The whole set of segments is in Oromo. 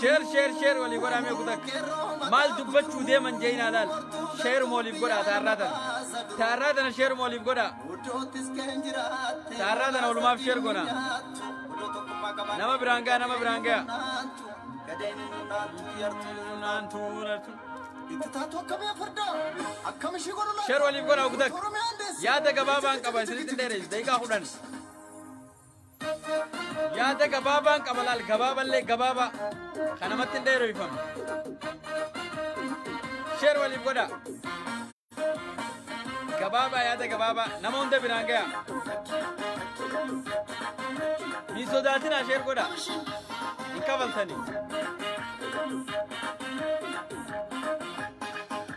Sheer sheer sheer walii godhaa mee kutakka. Maal dubbachuu deeman jeeyinaa laal. Sheeruma waliif godhaa taarraa tana. Taarraa tana sheeruma waliif godhaa. Taarraa tana walumaaf sheer godhaa. Nama biraan ga'a nama biraan ga'a. Sheer waliif godhaa kutakka. Yaada gabaabaan qaba isinitti dheerees daqiiqaa kudhan. Yaada gabaabaan qaba laal gabaaballee gabaabaa kan namatti hin dheereffamne. Sheer waliif godha. Gabaabaa yaada gabaabaa nama hunda biraan gaya. Hin sodaatinaa sheer godha. Hin kafaltanii.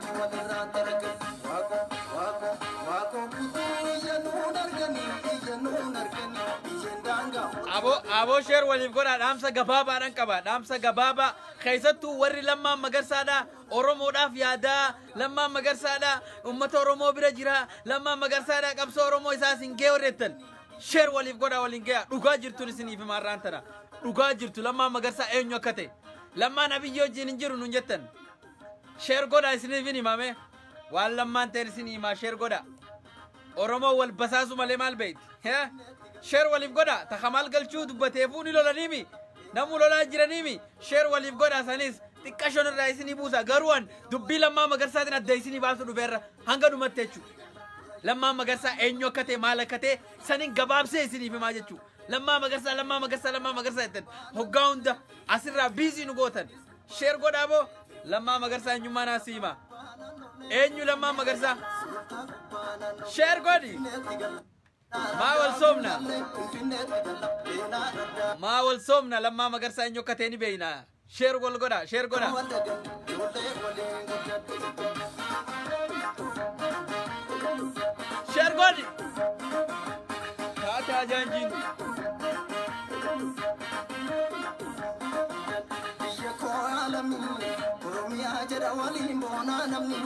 Rabbi walirraa dalaga. Waaqoo waaqoo waaqoo guutuu iyyannoon argani iyyannoon argani biyyeen daangaa mootii. Aboo aboo sheer waliif godhaa dhaamsa gabaabaadhaan qaba dhaamsa gabaabaa keessattuu warri lammaan magarsaadhaa oromoodhaaf yaadaa lammaan magarsaadhaa ummata oromoo bira jira lammaan magarsaadhaa qabsoo oromoo isaa isin gee warreettan sheer waliif godhaa waliin gee dhugaa jirtuun isiniif himaa irraan tana dhugaa jirtu lammaan magarsaa eenyu akka ta'e lammaan abiyyoo wajjin hin jiru nun jettan Sheer godha isiniifin himame. Waan lammaan ta'een isin himaa sheer godha. Oromoo wal basaasu malee maal beekti? Hee? Sheer waliif godha. Takka maal galchuu dubbateefuu ni lolaniimi. Namuu lolaa jiraniimi. Sheer waliif godha sanis xiqqashoon irraa isinii buusa. Garuu an dubbii lammaa magarsaatiin adda isinii baasu dhufeerra hanga dhumatti jechuudha. Lammaa magarsaa eenyu akka ta'e maal akka ta'e sanin gabaabsee isiniif himaa jechuudha. Lammaa magarsaa lammaa magarsaa lammaa magarsaa jettan hoggaa hunda asirraa biizii nu gootan. Sheer godhaa boo Lammaa Magarsaa eenyummaa naa si hima. Eenyu Lammaa Magarsaa? Sheer godhi. Maa wal soomna? Maa wal soomna Lammaa Magarsaa eenyu akka ta'e ni beekna. Sheer wal godha, sheer godha. Sheer godhi. Taate ajaanjiin. Biyya koo yaa lammii Oromiyaa jedha waliin boonaa namni.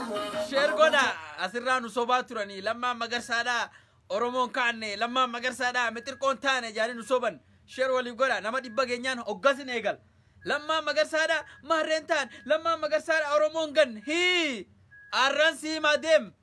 Sheer godha asirraa nu sobaa turanii lammaan magarsaadhaa Oromoon kaanne lammaan magarsaadhaa mixirqoon taane jaanii nu soban sheer waliif godha nama dhibba geenyaan hoggasin eegal lammaan magarsaadhaa maarreen taan lammaan magarsaadhaa Oromoon gan hii arran siimaa deem.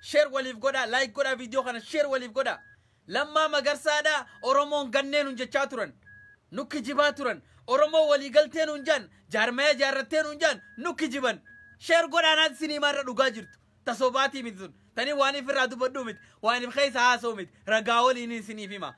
Sher waliif godhaa like godhaa video kana sher waliif godhaa Lammaa magarsaadha oromoon gannee nun jechaa turan nu kijibaa turan oromoo walii galtee nuun jaan jaarmaya jaarrattee nuun jaan nu kijiban sher godhaa naati sinii maarra dhugaa jirtu ta sobaatii miti tun tanii waaniif irraa dubbadhuu miti waaniif keessa haasoo miti ragaa waliiniin siniif hima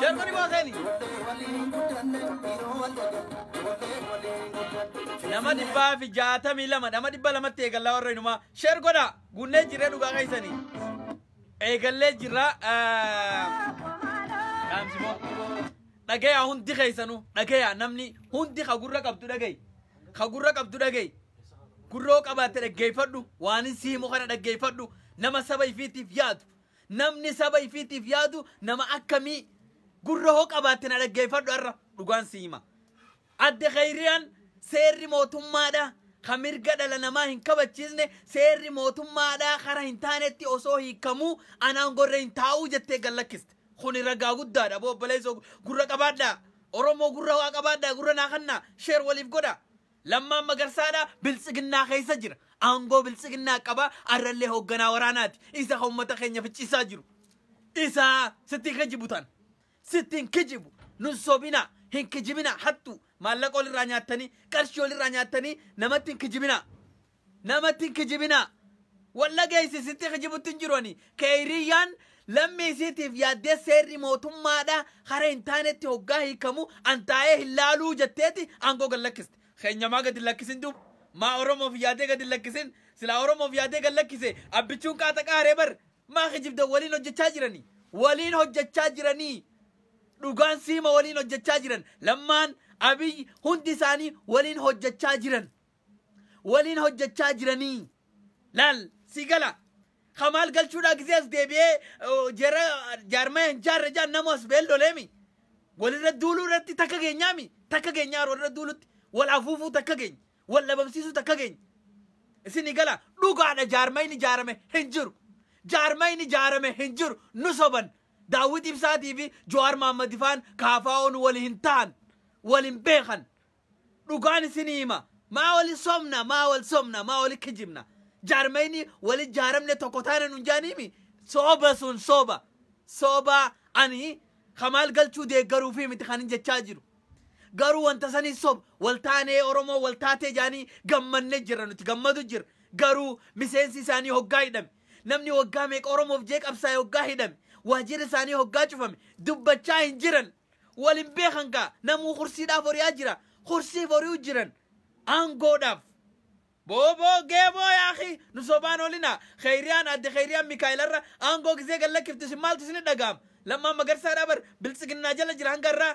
Shermani Booseni. Nama dhibbaa fi jaatamii lama nama dhibba lamatti eegallaa warra inumaa sheer godha guunnee jirree dhugaa keessanii eegallee jirra dhaamsimoo dhagayaa hundi keessanu dhagayaa namni hundi ka gurra qabdu dhagayi ka gurra qabdu dhagayi gurroo qabaatte dhaggeeffadhu waanin si himu kana dhaggeeffadhu nama saba ifiitiif yaadu Namni saba ifiitiif yaadu nama akkamii? Gurra hoo qabaatte na dhaggeeffadhu har'a dhugaan si hima. Adde Khayriyaan seerri mootummaadha kan mirga dhala namaa hin kabachiisne seerri mootummaadha kara hin taanetti osoo hiikamuu anaan gorre hin taa'uu jettee gad lakkiste. Kuni ragaa guddaadha boo obboleessoo gurra qabaadhaa. Oromoo gurra waa qabaadhaa gurra naa kannaa sheer waliif godhaa. Lammaan Magarsaadha, Biltsiginnaa keessa jira. Aangoo Biltsiginnaa qaba, arrallee hoogganaa waraanaati. Isa ka ummata keenya ficciisaa jiru. Isa sitti hin kijibu tan. Sitti hin kijibu. Nun sobinaa. Hin kijibinaa. Hattuu. Maallaqa olirraa nyaattanii, qarshii olirraa nyaattanii namatti hin kijibinaa. Namatti hin kijibinaa. Wal dhageessi sitti kijibutti hin jiru ani. Keeyriyyaan lammii isiitiif yaaddee seerri mootummaadha hara hin taanetti hoggaa hiikamu an taa'ee hin laaluu jetteeti aangoo gad lakkiste. Keenya maa gad hin lakkisin duuba? Maa Oromoof yaadee gad hin lakkisin? Silaa Oromoof yaadee gad lakkise abbichuun qaaxa qaaree bar. Maa kijibdan waliin hojjechaa jiranii. Waliin hojjechaa jiranii. Dhugaan siima waliin hojjechaa jiran. Lammaan, Abiy hundi isaanii waliin hojjechaa jiran. waliin hojjechaa jiranii laal sii gala kamaal galchuudhaa gisee as deebi'ee oh, jara jaarmaya hin jaarre jaan namoo as ba'ee loleemi walirra duuluu irratti takka geenyaami takka geenyaa walirra duulutti wal afuufuu takka geenya wal dhabamsiisuu takka geenya isinii gala dhugaadha jaarmayni jaarame hin jiru jaarmayni jaarame hin jiru nu soban daawwit ibsaatii fi jowaar maammadi faan kaafaa'oon wali hin ta'an wal hin beekan dhugaan isinii hima maa wali somna maa wal somna maa wali kijibna jaarmayni wali jaaramne tokko taana nun jaaniimi sooba sun sooba sooba ani kamaal galchuu deeggaruufii miti kanin jechaa jiru garuu wanta sanii soba wal taanee oromoo wal taatee jaanii gammanne jirra nuti gammadu jirra garuu miseensi isaanii hoggaa hidhame namni waggaa meeqa oromoof jee qabsaa'e hoggaa hidhame waajjirri isaanii hoggaa cufame dubbachaa hin jiran Wal hin beekan kaa namuu kursiidhaaf horiyaa jira kursiif hori'u jiran aangoodhaaf. Booboo geemoo yaakii nu sobaan olinaa keeyriyaan adde keeyriyaan mikaa'ilarra aangoo gizee gad lakkiftu isin maaltu isinit dhaga'ama lammaan magarsaadhaa bar biltsiginnaa jala jira hanga har'aa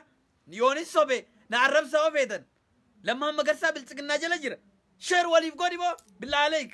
yoonin sobe na arrabsaa yoo feetan lammaan magarsaa biltsiginnaa jala jira sheer waliif godhi moo billaah aleeyk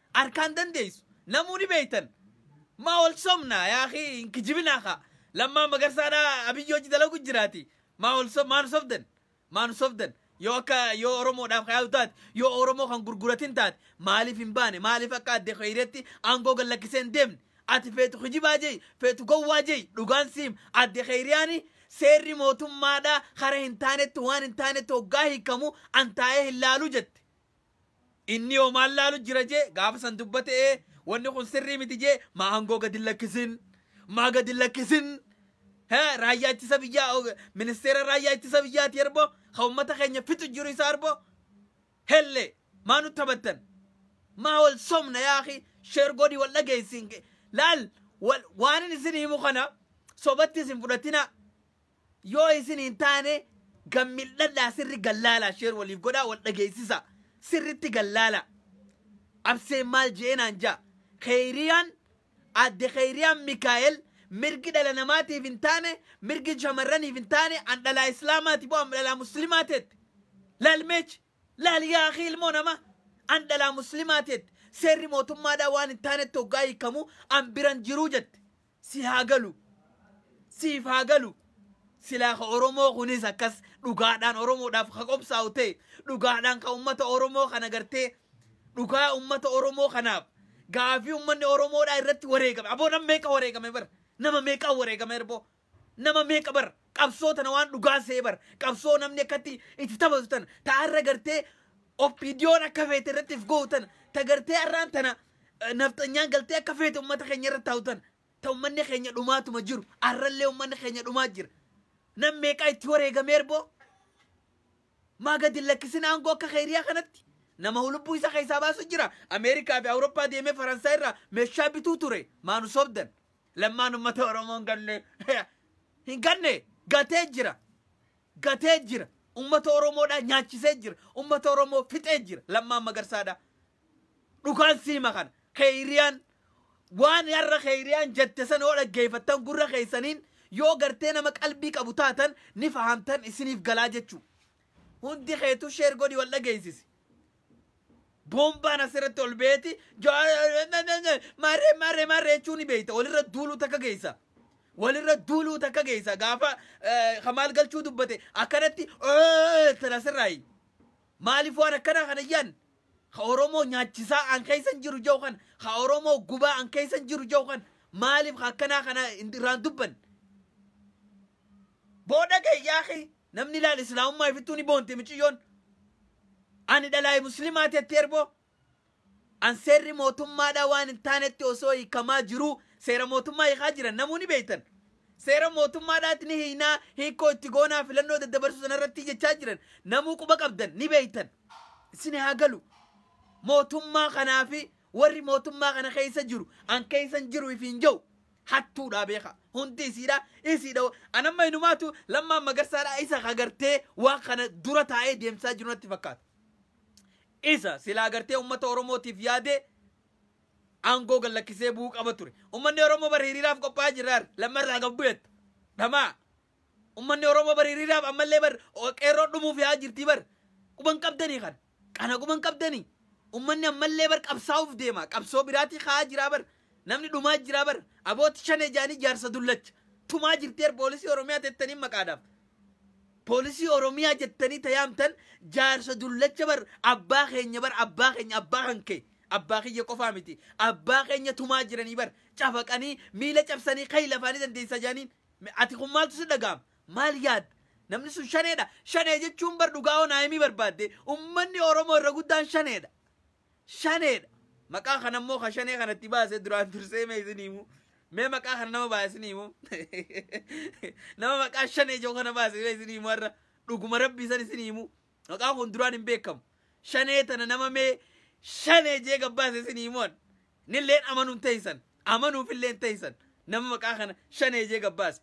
Arkaan dandeessu namuu ni beektan maa wal sobnaa yaa akii hin kijibinaa kaa lammaa magarsaadhaa abiyyi hojji dalagu jiraati maa wal sob maa nu sobdan maa nu sobdan yoo akka yoo oromoodhaaf kan yaadu taate yoo oromoo kan gurguratin taate maaliif hin baane maaliif akka adde keeyreetti aangoo gad lakkisee hin deemne ati feetu kijibaa jeyi feetu gowwaa jeyi dhugaan siim adde keeyriyaani seerri mootummaadhaa kara hin taanetti waan hin taanetti hoggaa hiikamu an taa'ee hin laalu jette Inni hoo maal laalu jira jee gaafa san dubbate ee wanni kun sirrii miti jee maa hangoo gadi lakkisin maa gadi lakkisin he raayyaa ittisa biyyaa og- ministeera raayyaa ittisa biyyaati erbo ka ummata keenya fixu jiru isa erbo helle maa nu taphattan maa wal somna yaa akhi sheer godhi wal dhageessin laal wal- waanin isin himu kana sobatti isin fudhatina Yoo isin hin taane gad mil'adhaa sirri gad laalaa sheer waliif godhaa wal dhageessisaa sirritti gad laalaa abseen maal je'ee naan ja'a keeyriyaan aadde keeyriyaan mikaa'el mirgi dhala namaatiif hin taane mirgi shamarraniif hin taane an dhalaa islaamaati boo an dhalaa muslimaa teette laal meech laal yaa akii ilmoo namaa an dhalaa muslimaa teette seerri mootummaadhaa waan hin taanetti hoggaa hiikamu an biran jiruu jette Si haa galu. Siif haa galu. Silaa ka Oromoo kunis akkas dhugaadhaan Oromoodhaaf ka qobsaa'u ta'e, dhugaadhaan ka ummata Oromoo kana gartee dhugaa ummata Oromoo kanaaf gaafii ummanni Oromoodhaa irratti wareegame. Aboo nam meeqa wareegame bar? Nama meeqaa wareegame erboo? Nama meeqa bar? Qabsoo tana waan dhugaa see bar. Qabsoo namni akkatti itti taphatu tana. Ta har'a gartee oppiidiyoon akka feete irratti if go'u tana. Ta gartee har'aan tana eh, nafxanyaan galtee akka feete uummata keenya irra taa'u tana. Ta uummanni keenya dhumaatuma jiru. Har'allee uummanni keenya dhumaa jira. Nam meeqaa itti wareegamee erboo? Maa gadi hin lakkisin aangoo akka keeriyaa kanatti? Nama hulubbuu isa keessaa baasu jira. Ameerikaa fi Awurooppaa deemee Faransaay irraa meeshaa bituu ture. Maa nu sobdan? Lammaan uummata Oromoo hin ganne. Hin ganne. Gatee jira. Gatee jira. Uummata Oromoodhaa nyaachisee jira. Uummata Oromoo fixee jira. Lammaan magarsaadhaa. Dhukaan siima kana. Keeyriyaan waan har'a keeyriyaan jette sana yoo dhaggeeffattan gurra keessaniin yoo gartee nama qalbii qabu taatan ni fahamtan isiniif galaa jechuu. Hundi keetu sheer godhi wal dhageessisi. Boombaan asirratti ol beeti marre marre marre jechuun ni beekta walirra duuluu takka geessa. Walirra duuluu takka geessa gaafa kamaal galchuu dubbate akkanatti tan asirraayi. Maaliif waan akkana kana yaan ka Oromoo nyaachisaa an keessa hin jiru jau kan ka Oromoo gubaa an keessa hin jiru jau kan maaliif ka akkanaa kana irraan dubban. Booda gayyaa kee Namni laal islaamummaa ifittuu ni boonti miciyyoon. Ani dhalaayi muslimaa tetti erboo. An seerri mootummaadhaa waan hin taanetti osoo hiikamaa jiruu seera mootummaa hiikaa jiran namuu ni beektan. Seera mootummaadhaatti ni hiinaa hiikkoo itti goonaa filannoo daddabarsuu sanarratti jechaa jiran namuu quba qabdan ni beektan. Isin haa galu. Mootummaa kanaa fi warri mootummaa kana keessa jiru an keessan jiru ifiin ja'u. hattuudha beeka hundi isiidha isiidha anamma inumaatu lammaan magarsaadha isa kagartee waan kana dura taa'ee deemsaa jiru natti fakkaata isa silaa gartee ummata oromootiif yaadee aangoo gad lakkisee bu'uu qaba ture ummanni oromoo bara hiriiraaf qophaa'aa jirraar lammarraa gad bu'eetta dhamaa Ummanni Oromoo bar hiriiraaf ammallee bar qeerroon dhumuuf yaa jirtii bar quban qabdanii kan kana quban qabdanii ummanni ammallee bar qabsaa'uuf deema qabsoo biraatii ka'aa jiraa bar namni dhumaa jiraa bar abooti shanee jaanii jaarsa dullacha tumaa jirtii bar poolisii Oromiyaa tettanii maqaadhaaf poolisii Oromiyaa jettanii tayaamtan jaarsa dullacha bar abbaa keenya bar abbaa keenya abbaa kan kee abbaa kiyya qofaa miti abbaa keenya tumaa jiranii bar cafaqanii miila cabsanii kayi lafaanii dandeessaa jaaniin Me ati kun maaltu si dhaga'ama? Maal yaadda? Namni sun shaneedha. Shanee jechuun bar dhugaa hoo naa himii barbaadde ummanni Oromoo irra guddaan shaneedha. Shaneedha. Maqaa kana immoo ka shanee kanatti baase duraan dursee mee isin himu. Mee maqaa kana nama baase isin himu. Nama maqaa shanee jedhu kana baase mee isin himu har'a. Dhuguma rabbii san isin himu. Maqaan kun duraan hin beekamu. Shanee tana nama mee shanee jee gabbaase isin himuan. Nilleen amanuun teeysan. Amanuufilleen teeysan. Nama maqaa kana shanee jee gabbaase.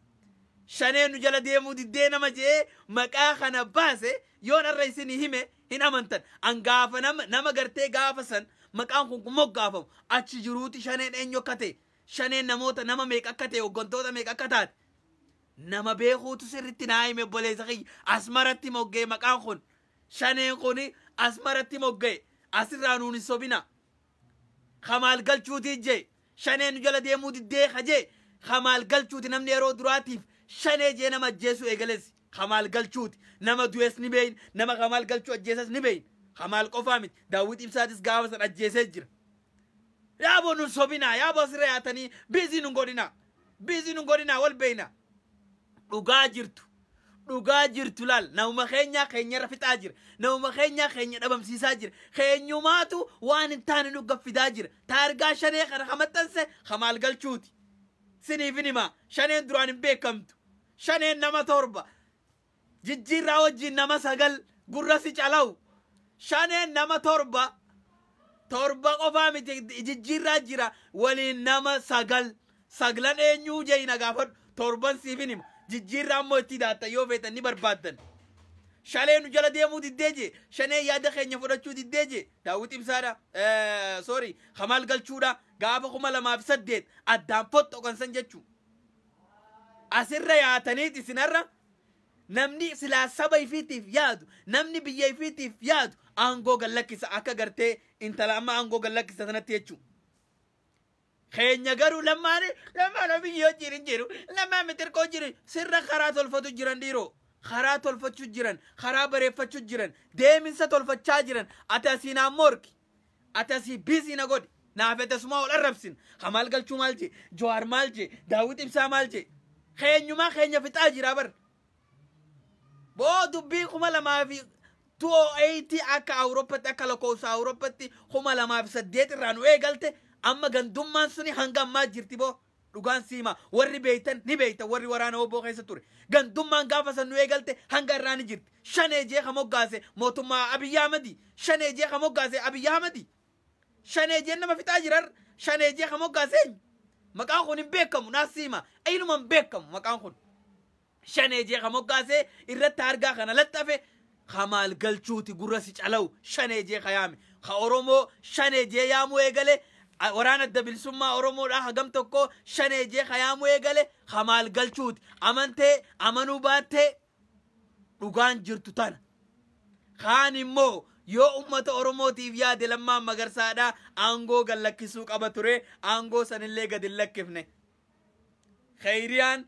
Shanee nu jala deemuu diddee nama jee maqaa kana baase yoon arra isinii hime hin amantan. An gaafa nama, nama gartee gaafa san maqaan kun kun moggaafamu achi jiruuti shaneen eenyu akka ta'e. Shaneen namoota nama meeqa akka ta'e hoggantoota meeqa akka taate. Nama beekuutu sirritti naa hime obboleessa kiyya. Asmaratti mogga'e maqaan kun. Shaneen kun asmaratti mogga'e. Asirraa nuun hin sobina. Kamaal galchuutii jee. Shaneen nu jala deemuu diddee ka jee. Kamaal galchuuti namni yeroo duraatiif shanee jee nama ajjeesuu eegalesi. Kamaal galchuuti. Nama du'es ni beeyna. Nama kamaal galchuu ajjeesas ni beeyna. Kamaal qofaa miti. Daawwit Ibsaatis gaafa san ajjeesee jira. Yaabo nun sobinaa yaabo asirra yaatanii biizii nun godhinaa. Biizii nun godhinaa wal beeyna. Dhugaa jirtu. Dhugaa jirtu laal namuma keenyaa keenyarra fixaa jira. Namuma keenyaa keenya dhabamsiisaa jira. Keenyumaatu waan hin taane nu gaffidaa jira. Taargaa shanee kana ka maxxanse ka maal galchuuti. Siniifin himaa shaneen duraan hin beekamtu. Shaneen nama torba. Jijjiirraa wajjiin nama 9 gurra si calau shaneen nama 7 torba qofaa miti jijjiirraa jira waliin nama 9 saglan eenyuu je'i na gaafadhu torban siifin hima jijjiirraa immoo itti daatta yoo feetan ni barbaaddan shalee nu jala deemuu diddee je shanee yaada keenya fudhachuu diddee je daawwit ibsaadha sorry kamaal galchuudha gaafa 2008 addaan fottoqan san jechuu asirra yaataniit isinarra Namni silaa saba ifiitiif yaadu, namni biyya ifiitiif yaadu aangoo gad lakkisa akka gartee intala amma aangoo gad lakkisa sanatti jechuu. Keenya garuu lammaan lammaan biyyi hojiin hin jiru lammaan mitirqoo jiru sirra karaa tolfatu jiran dhiiroo. Karaa tolfachuu jiran, karaa bareeffachuu jiran, deeminsa tolfachaa jiran ati asiinaan morki. Ati asii biizii na godhi. Naa fete sumaa wal arrabsin. Kamaal galchuu maal jee? Jawaar maal jee? Daawwit ibsaa maal jee? Keenyumaa keenya fixaa jiraa bar. Boo dubbii kuma lamaa fi 208 akka Awurooppatti akka lakkoofsa Awurooppatti kuma lamaa fi saddeet irraa nu eegalte amma gandummaan suni hanga ammaa jirti boo. Dhugaan si himaa warri beeytan ni beeytan warri waraana wbo keessa ture. Gandummaan gaafa san nu eegalte hanga irraa ni jirti. Shanee jee ka moggaase mootummaa Abiy Ahmadi. Shanee jee ka moggaase Abiy Ahmadi. Shanee jeen nama fixaa jira har'a. Shanee jee ka moggaase eenyu? Maqaan kun hin beekamu naas si himaa. Iluman beekamu maqaan kun. shanee jee ka moggaasee irratti hargaa kana laxxafe ka maal galchuuti gurra si calawu shanee jee ka yaame ka oromoo shanee jee yaamuu eegale a- waraana adda bilisummaa oromoodhaa hagam tokko shanee jee ka yaamuu eegale ka maal galchuuti amantee amanuu baattee dhugaan jirtu tana kaan immoo yoo ummata oromootiif yaade lammaan magarsaadha aangoo gad lakkisuu qaba ture aangoo sanillee gad hin lakkifne Khayriyaan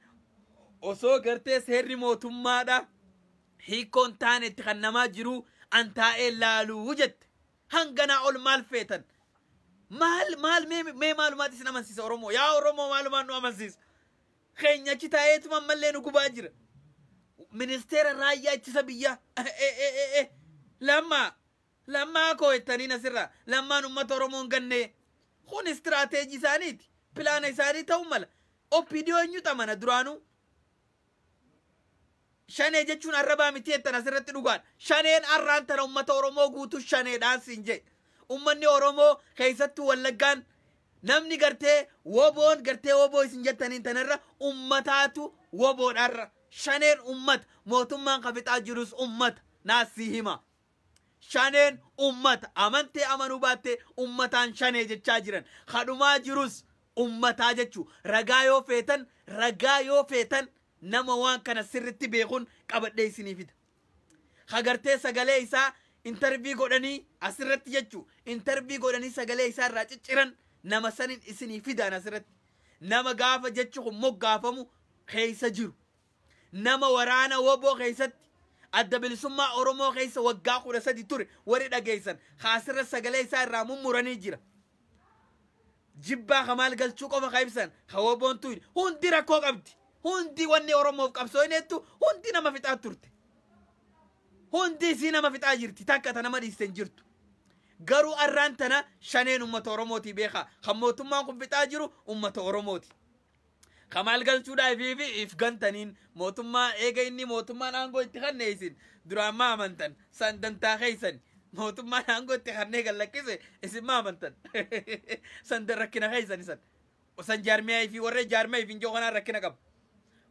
osoo gartee seerri mootummaadha hiikkoon taane itti kan namaa jiru an taa'ee laaluu jette. Hanganaa ol maal feetan? Maal maal mee mee maalumaatti isin amansiisa Oromoo? Yaa Oromoo maalumaan nu amansiisa? Keenya achi taa'eetuma ammallee nu gubaa jira. Ministeera raayyaa ittisa biyyaa. Eh, eh, eh, eh, eh. Lamma Lammaa koo jettanii nasirraa lammaan ummata oromoo hin gannee Kun istirateeji isaaniiti pilaana isaanii ta'uu mala opdo eenyutu amana duraanuu Shanee jechuun arrabaa miti jettan asirratti dhugaadha. Shaneen arraan tana ummata Oromoo guutuu shaneedhaan siin jee. Ummanni Oromoo keessattuu wallaggaan namni gartee woboon gartee woboo isin jettaniin tanarra ummataatu woboodhaarra. Shaneen ummata mootummaan kafixaa jirus ummata naasii hima. Shaneen ummata, amantee amanuu baattee ummataan shanee jechaa jiran. Ka dhumaa jirus ummataa jechuu. Ragaa yoo feetan, ragaa yoo feetan nama waan kana sirritti beekun qabadhee isinii fida. Ka gartee sagalee isaa intervii godhanii asirratti jechuu, intervii godhanii sagalee isaa irraa cicciran nama sanin isinii fidaan asirratti. Nama gaafa jechi kun moggaafamu keessa jiru. Nama waraana wbo keessatti Adda Bilisummaa Oromoo keessa waggaa 13 ture warri dhageessan ka asirra sagalee isaa irraa mummuranii jira. Jibbaa ka maal galchuu qofa ka ibsan ka wboon tuyne hundi rakkoo qabdi. Hundi wanni Oromoof qabsooyneettu hundi nama fixaa turte. Hundi isii nama fixaa jirti takka ta nama dhiiste hin jirtu. Garuu arraan tana shaneen uummata Oromootii beekaa kan mootummaan kun fixaa jiru uummata Oromooti. Ka maal galchuudhaa ifii fi if gantaniin mootummaa eega inni mootummaan aangoo itti kannee isin duraan maa amantan san dantaa keessan mootummaan aangoo itti kannee kan lakkise isin maa amantan san da- rakkina keessan isan san jaarmiyaa ifii warra jaarmiyaa ifin jiru kanaan rakkina qaba.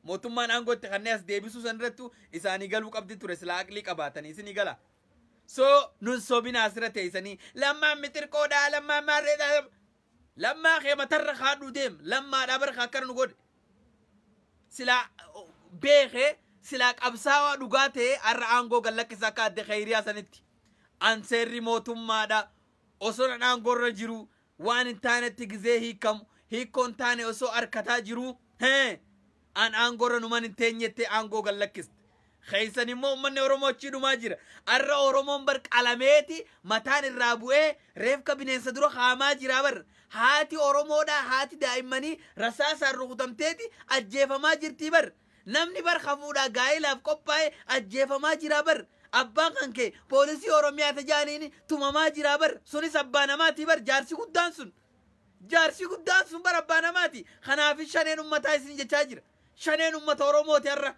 mootummaan aangoo itti kannee as deebisuu san irrattu isaanii galuu qabdi ture silaa aqlii qabaatanii isinii gala. So nun sobina asirra teessanii lammaan mixirqoodhaa lammaan maarreedhaa Lammaa kee matarra kaadhuu deem lammaadhaa bara ka akkana nu godhe silaa beeke silaa qabsaawaa dhugaa ta'e har'a aangoo gad lakkisa akka adde kayriyaa sanitti an seerri mootummaadha osoo nan aangoorra jiru waan hin taanetti gizee hiikamu hiikkoon taane osoo arkataa jiru hee An aangoorra numan hin teenye jettee aangoo gad lakkiste. Keessan immoo uummanni Oromoo achii dhumaa jira. Arra Oromoon bar qalameeti mataan irraa bu'ee reefka bineensa dura kaamaa jira bar. Haati Oromoodhaa haati daa'immanii rasaasaan rukutamteeti ajjeefamaa jirtii bar. Namni bar hafuudhaa gaa'ilaaf qophaa'e ajjeefamaa jira bar. Abbaan kan kee poolisii Oromiyaa tajaaniini tumamaa jira bar. Sunis abbaa namaatii bar jaarsi guddaan sun. Jaarsii guddaan sun bara abbaa namaati. Kanaafis shaneen ummataa isin jechaa jira. Shaneen ummata Oromooti har'a.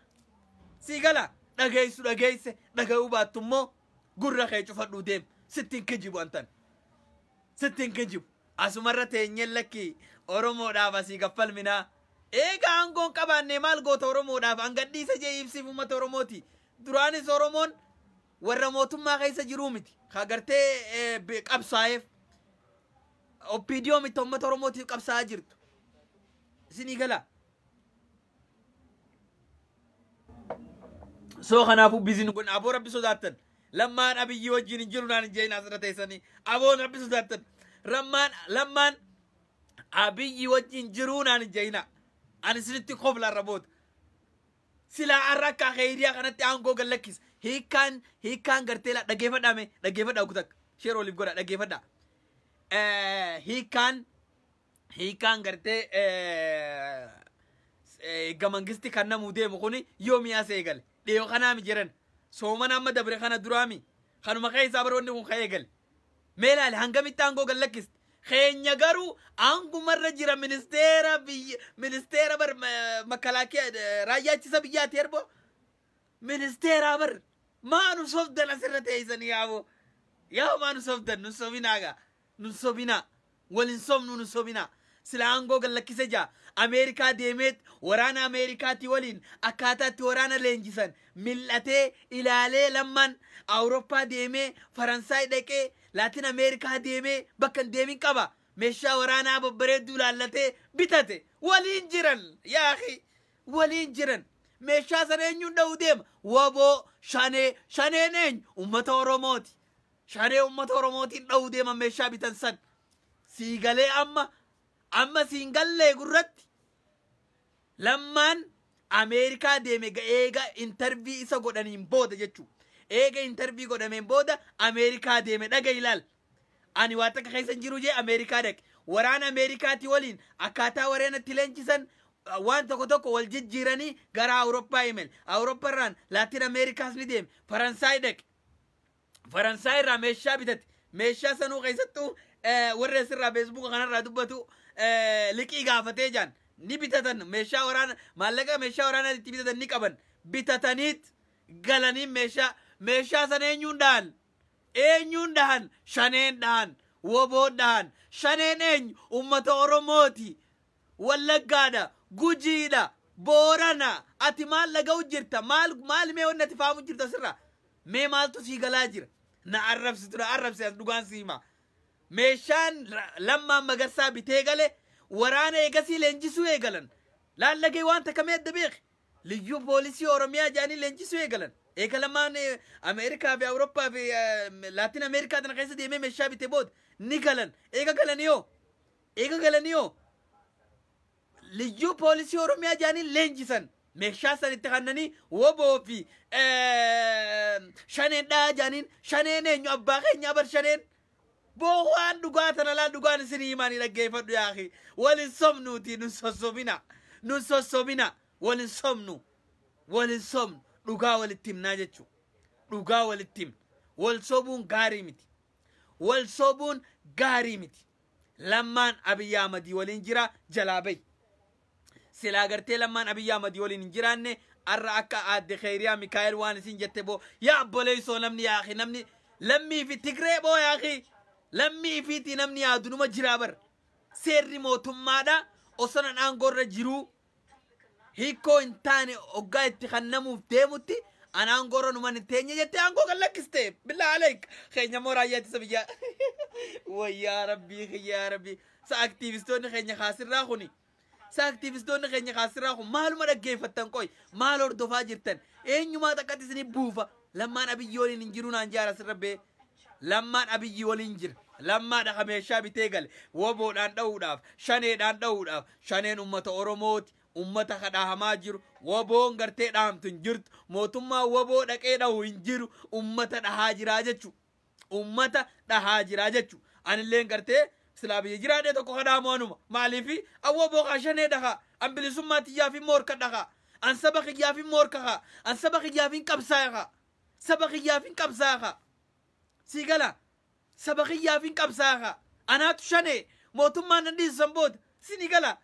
Sii gala dhageessu dhageesse dhagayuu baattu immoo gurra kee cufadhuu deem. Sitti hin kijibu antan. Sitti hin kijibu. Asumarra teenyeen lakki Oromoodhaaf asii gaffalminaa. Eega aangoon qabaannee maal goota Oromoodhaaf hangadhiisa jee ibsiif ummata Oromooti. Duraanis Oromoon warra mootummaa keessa jiruu miti. Ka gartee eh, bi- qabsaa'eef. Oppiidiyoo miti uummata Oromootiif qabsaa'aa jirtu. Isinii gala. Soo kanaafuu biizin kun aboo rabbi sodaattan. Lammaan abiyyii wajjin hin jiru naan hin jeeyin asirra teessanii. Aboon rabbi sodaattan. Rammaan lammaan abiyyii wajjin jiruu naan hin jeeyina. Ani isinitti kofla irra booda. Silaa arra akka kheyriyaa kanatti aangoo gad lakkisa. Hiikkaan hiikkaan gartee laa dhageeffadhaa mee dhageeffadhaa ugu takka. Sheer oliif godha dhageeffadhaa. Eh, Hiikkaan hiikkaan gartee eh, eh, gamangisti kan namuu deemu kuni yoo mi'aa see eegale. Dhiyoo kanaami jiran. Soomana amma dabre kana duraami. Kanuma keessaa baroonni kun ka'ee eegale. Mee ilaali hangamitti aangoo gad lakkiste. Keenya garuu aangumarra jira ministeera biyya ministeera bar makalaakiya raayyaa ittisa biyyaati erboo ministeeraa bar maa nu sobdan asirra teessanii yaaboo yaa maa nu sobdan nu sobinaa gaa nu sobinaa. Wal hin sobnuu nun sobinaa. Silaa aangoo gad lakkise jaa. Ameerikaa deemeet waraana Ameerikaatii waliin akkaataa itti waraana leenjisan mil'atee, ilaalee Lammaan Awuroppaa deemee, Faransaay dhaqee, Laatin Ameerikaa deemee bakka hin deemin qaba. Meeshaa waraanaa babbareedduu ilaallatee bitate. Waliin jiran! Yaa akhii! Waliin jiran! Meeshaa sana eenyuun dha'uu deema? Wbo, Shanee, Shaneen eenyu? Ummata Oromooti. Shanee ummata oromootiin dhahuu deeman meeshaa bitan san sii galee amma amma siin gallee gurratti lammaan ameerikaa deeme ga- eega intarvii isa godhaniin booda jechuu eega intarvii godhameen booda ameerikaa deeme dhaga ilaal ani waa takka keessa hin jiru jee ameerikaa dhaqe waraan ameerikaati waliin akkaataa wareen itti leenjisan uh, waan tokko tokko wal jijjiiranii gara awurooppaa imel awuroopparraan laatin ameerikaas ni deeme faransaay dhaqe Faransaay irraa meeshaa bitate. Meeshaa sanuu keessattuu warri asirraa feesbuuka kanarraa dubbatu liqii gaafatee jaan ni bitatan meeshaa waraana maallaqa meeshaa waraanaa itti bitatan ni qaban bitataniit galaniin meeshaa meeshaa sana eenyuun dhahan eenyuun dhahan shaneen dhahan woboo dhahan shaneen eenyu ummata oromooti Wallaggaadha, Gujiidha, Boorana, ati maal dhaga'u jirta? Maal maal mee wanni ati faamu jirta sirra? Mee maaltu sii galaa jira? Na arrabsitu na arrabsi as dhugaan sii hima. Meeshaan ra- lammaan magarsaa bitee gale waraana eegasii leenjisuu eegalan. Laallagee waan takka mee adda beeki. Liyyuu poolisii Oromiyaa jedhanii leenjisuu eegalan. Eega lamaan eh, Ameerikaa fi Awurooppaa fi eh, Laatiin Ameerikaa tana keessa deemee meeshaa bite booda ni galan. Eega galanii hoo? Eega galanii hoo liyyuu poolisii Oromiyaa jaaniin leenjisan meeshaa san itti kannanii woboo fi shaneen dhaa jaaniin shaneen eenyu abbaa keenyaa bar shaneen boo waan dhugaa tana laal dhugaan isinii himaanii dhaggeeffadhu yaaki walin sobnuuti nun sossobina nun sossobina walin sobnu walin sobnu dhugaa walitti himnaa jechuu dhugaa walitti himna wal sobuun gaarii miti wal sobuun gaarii miti Lammaan Abiy Ahmad waliin jira jalaa bahi. Silaa gartee lammaan Abiy Ahmad waliin hin jiraanne arra akka aadde Kheyriyaa Mikaa'el waan isin jette boo yaa abboleessoo namni yaa akhi namni lammii fi Tigree boo yaa akhi lammii ifiitii namni yaadunuma jiraa bar seerri mootummaadha osonan aangoorra jiruu hiikkoo hin taane oggaa itti kannamuuf deemutti an aangoo irra numan hin teenye jettee aangoo kan lakkiste billaa aleek keenya immoo raayyaa ittisa biyyaa wayyaa rabbii kiyyaa rabbii sa aktiivistoonni keenya kaasirraa kuni sa aktiivistoonni keenya kaasirraa kun maaluma dhaggeeffattan qoy maal hordofaa jirtan eenyumaa takkatti isinii buufa Lammaan Abiyyii waliin hin jiru naan jaara sirra bee. Lammaan Abiyyii waliin jira. Lammaadha ka meeshaa bitee gale. Woboodhaan dha'uudhaaf, shaneedhaan dha'uudhaaf. Shaneen ummata Oromooti. Ummata ka dhahamaa jiru. Woboon gartee dhahamtu hin jirtu. Mootummaan woboo dhaqee dhahu hin jiru. Ummata dhahaa jira jechuudha. ummata dhahaa jiraa jechu anilleen gartee silaa biyya jiraadhee tokko kadhaamu anuma maaliifi awwa bookaa shanee dhakaa an bilisummaa tiyyaafin moorka dhakaa an saba kiyyaafin moorka kaa an saba kiyyaafin qabsaaya kaa saba kiyyaafin qabsaaya kaa sii gala saba kiyyaafin qabsaaya kaa anaatu shanee mootummaan nan dhiisu san booda sini gala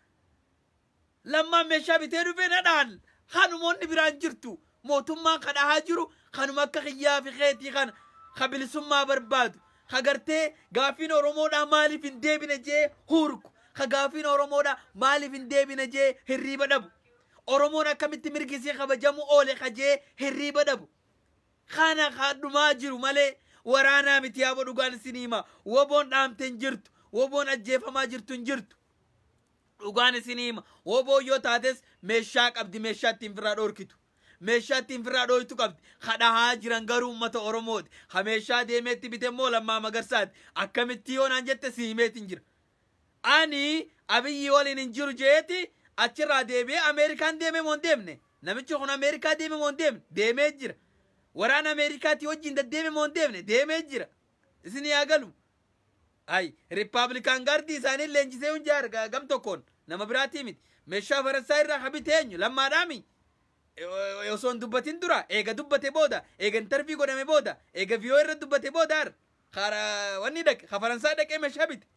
Lammaan meshaa bitee dhufee na dhahan kanuma wanni biraa hin jirtu mootummaan ka dhahaa jiru kanuma akka kiyyaa fi keetii kana ka bilisummaa barbaadu ka gartee gaafiin oromoodhaa maaliif hin deebine jee huurku ka gaafiin oromoodhaa maaliif hin deebine jee hirriiba dhabu oromoon akkamitti mirgi isii kabajamu oole ka jee hirriiba dhabu kana kadhumaa jiru malee waraanaa miti yaabo dhugaan isin hima woboon dhaamte hin jirtu woboon ajjeefamaa jirtu hin jirtu Dhugaan isinii hima wbo yoo taates meeshaa qabdi meeshaa ittiin firraa dhoorkitu meeshaa ittiin firraa dhooytu qabdi ka dhahaa jiran garuu ummata oromooti ka meeshaa deemee itti bite immoo lammaa magarsaati akkamittii yoo naan jette si himeetin jira ani abiyyii waliin hin jiru jeeti achirraa deebi'ee ameerikaan deemee moo hin deemne namichi kun ameerikaa deemee moo hin deemne deemee jira waraana ameerikaatii wajjin daddeeme moo hin deemne deemee jira isin yaa galu Ay, Rippaablikaan Gaardii isaanii leenjisee hunjaa arga, gam tokkoon nama biraatii miti. Meeshaa farassaa irraa ka bite eenyu? Lammaadhaami? E- Osoo hin dubbatin dura, eega dubbate booda, eega intarvii godhame booda, eega viiyoo irra dubbate booda ar. Kaara wanni dhaqe, ka faransaa dhaqee meeshaa bite.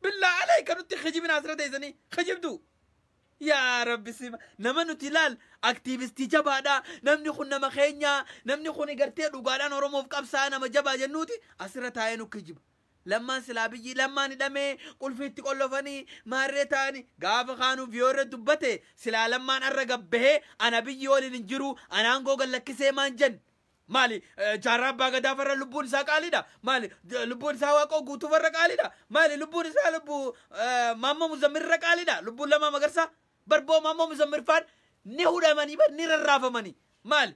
Billaa aleeka nutti kijibina asirra teessanii kijibduu. Yaa rabbi sima nama nuti laal aktiivistii jabaadha namni kun nama keenya namni kun gartee dhugaadhaan oromoof qabsaa nama jabaa jennuuti asirra taa'ee nu kijiba lammaan silaa biyyi lammaan hidhamee qulfiitti qollofanii maarree taa'anii gaafa kaanuu viyoorra dubbate silaa lammaan arra gabbahee ana biyyi waliin hin jiru anaan googan lakkisee maan jen Maali eh, jaarraa abbaa gadaa farra lubbuun isaa qaaliidha? Maali eh, lubbuun isaa waaqoo guutuu farra qaaliidha? Maali lubbuun isaa lubbuu eh, maammoo muzammir irra qaaliidha? Lubbuun lamaa magarsaa barboo maammoo muzammir faan ni hudhamanii bar ni rarraafamanii. Maali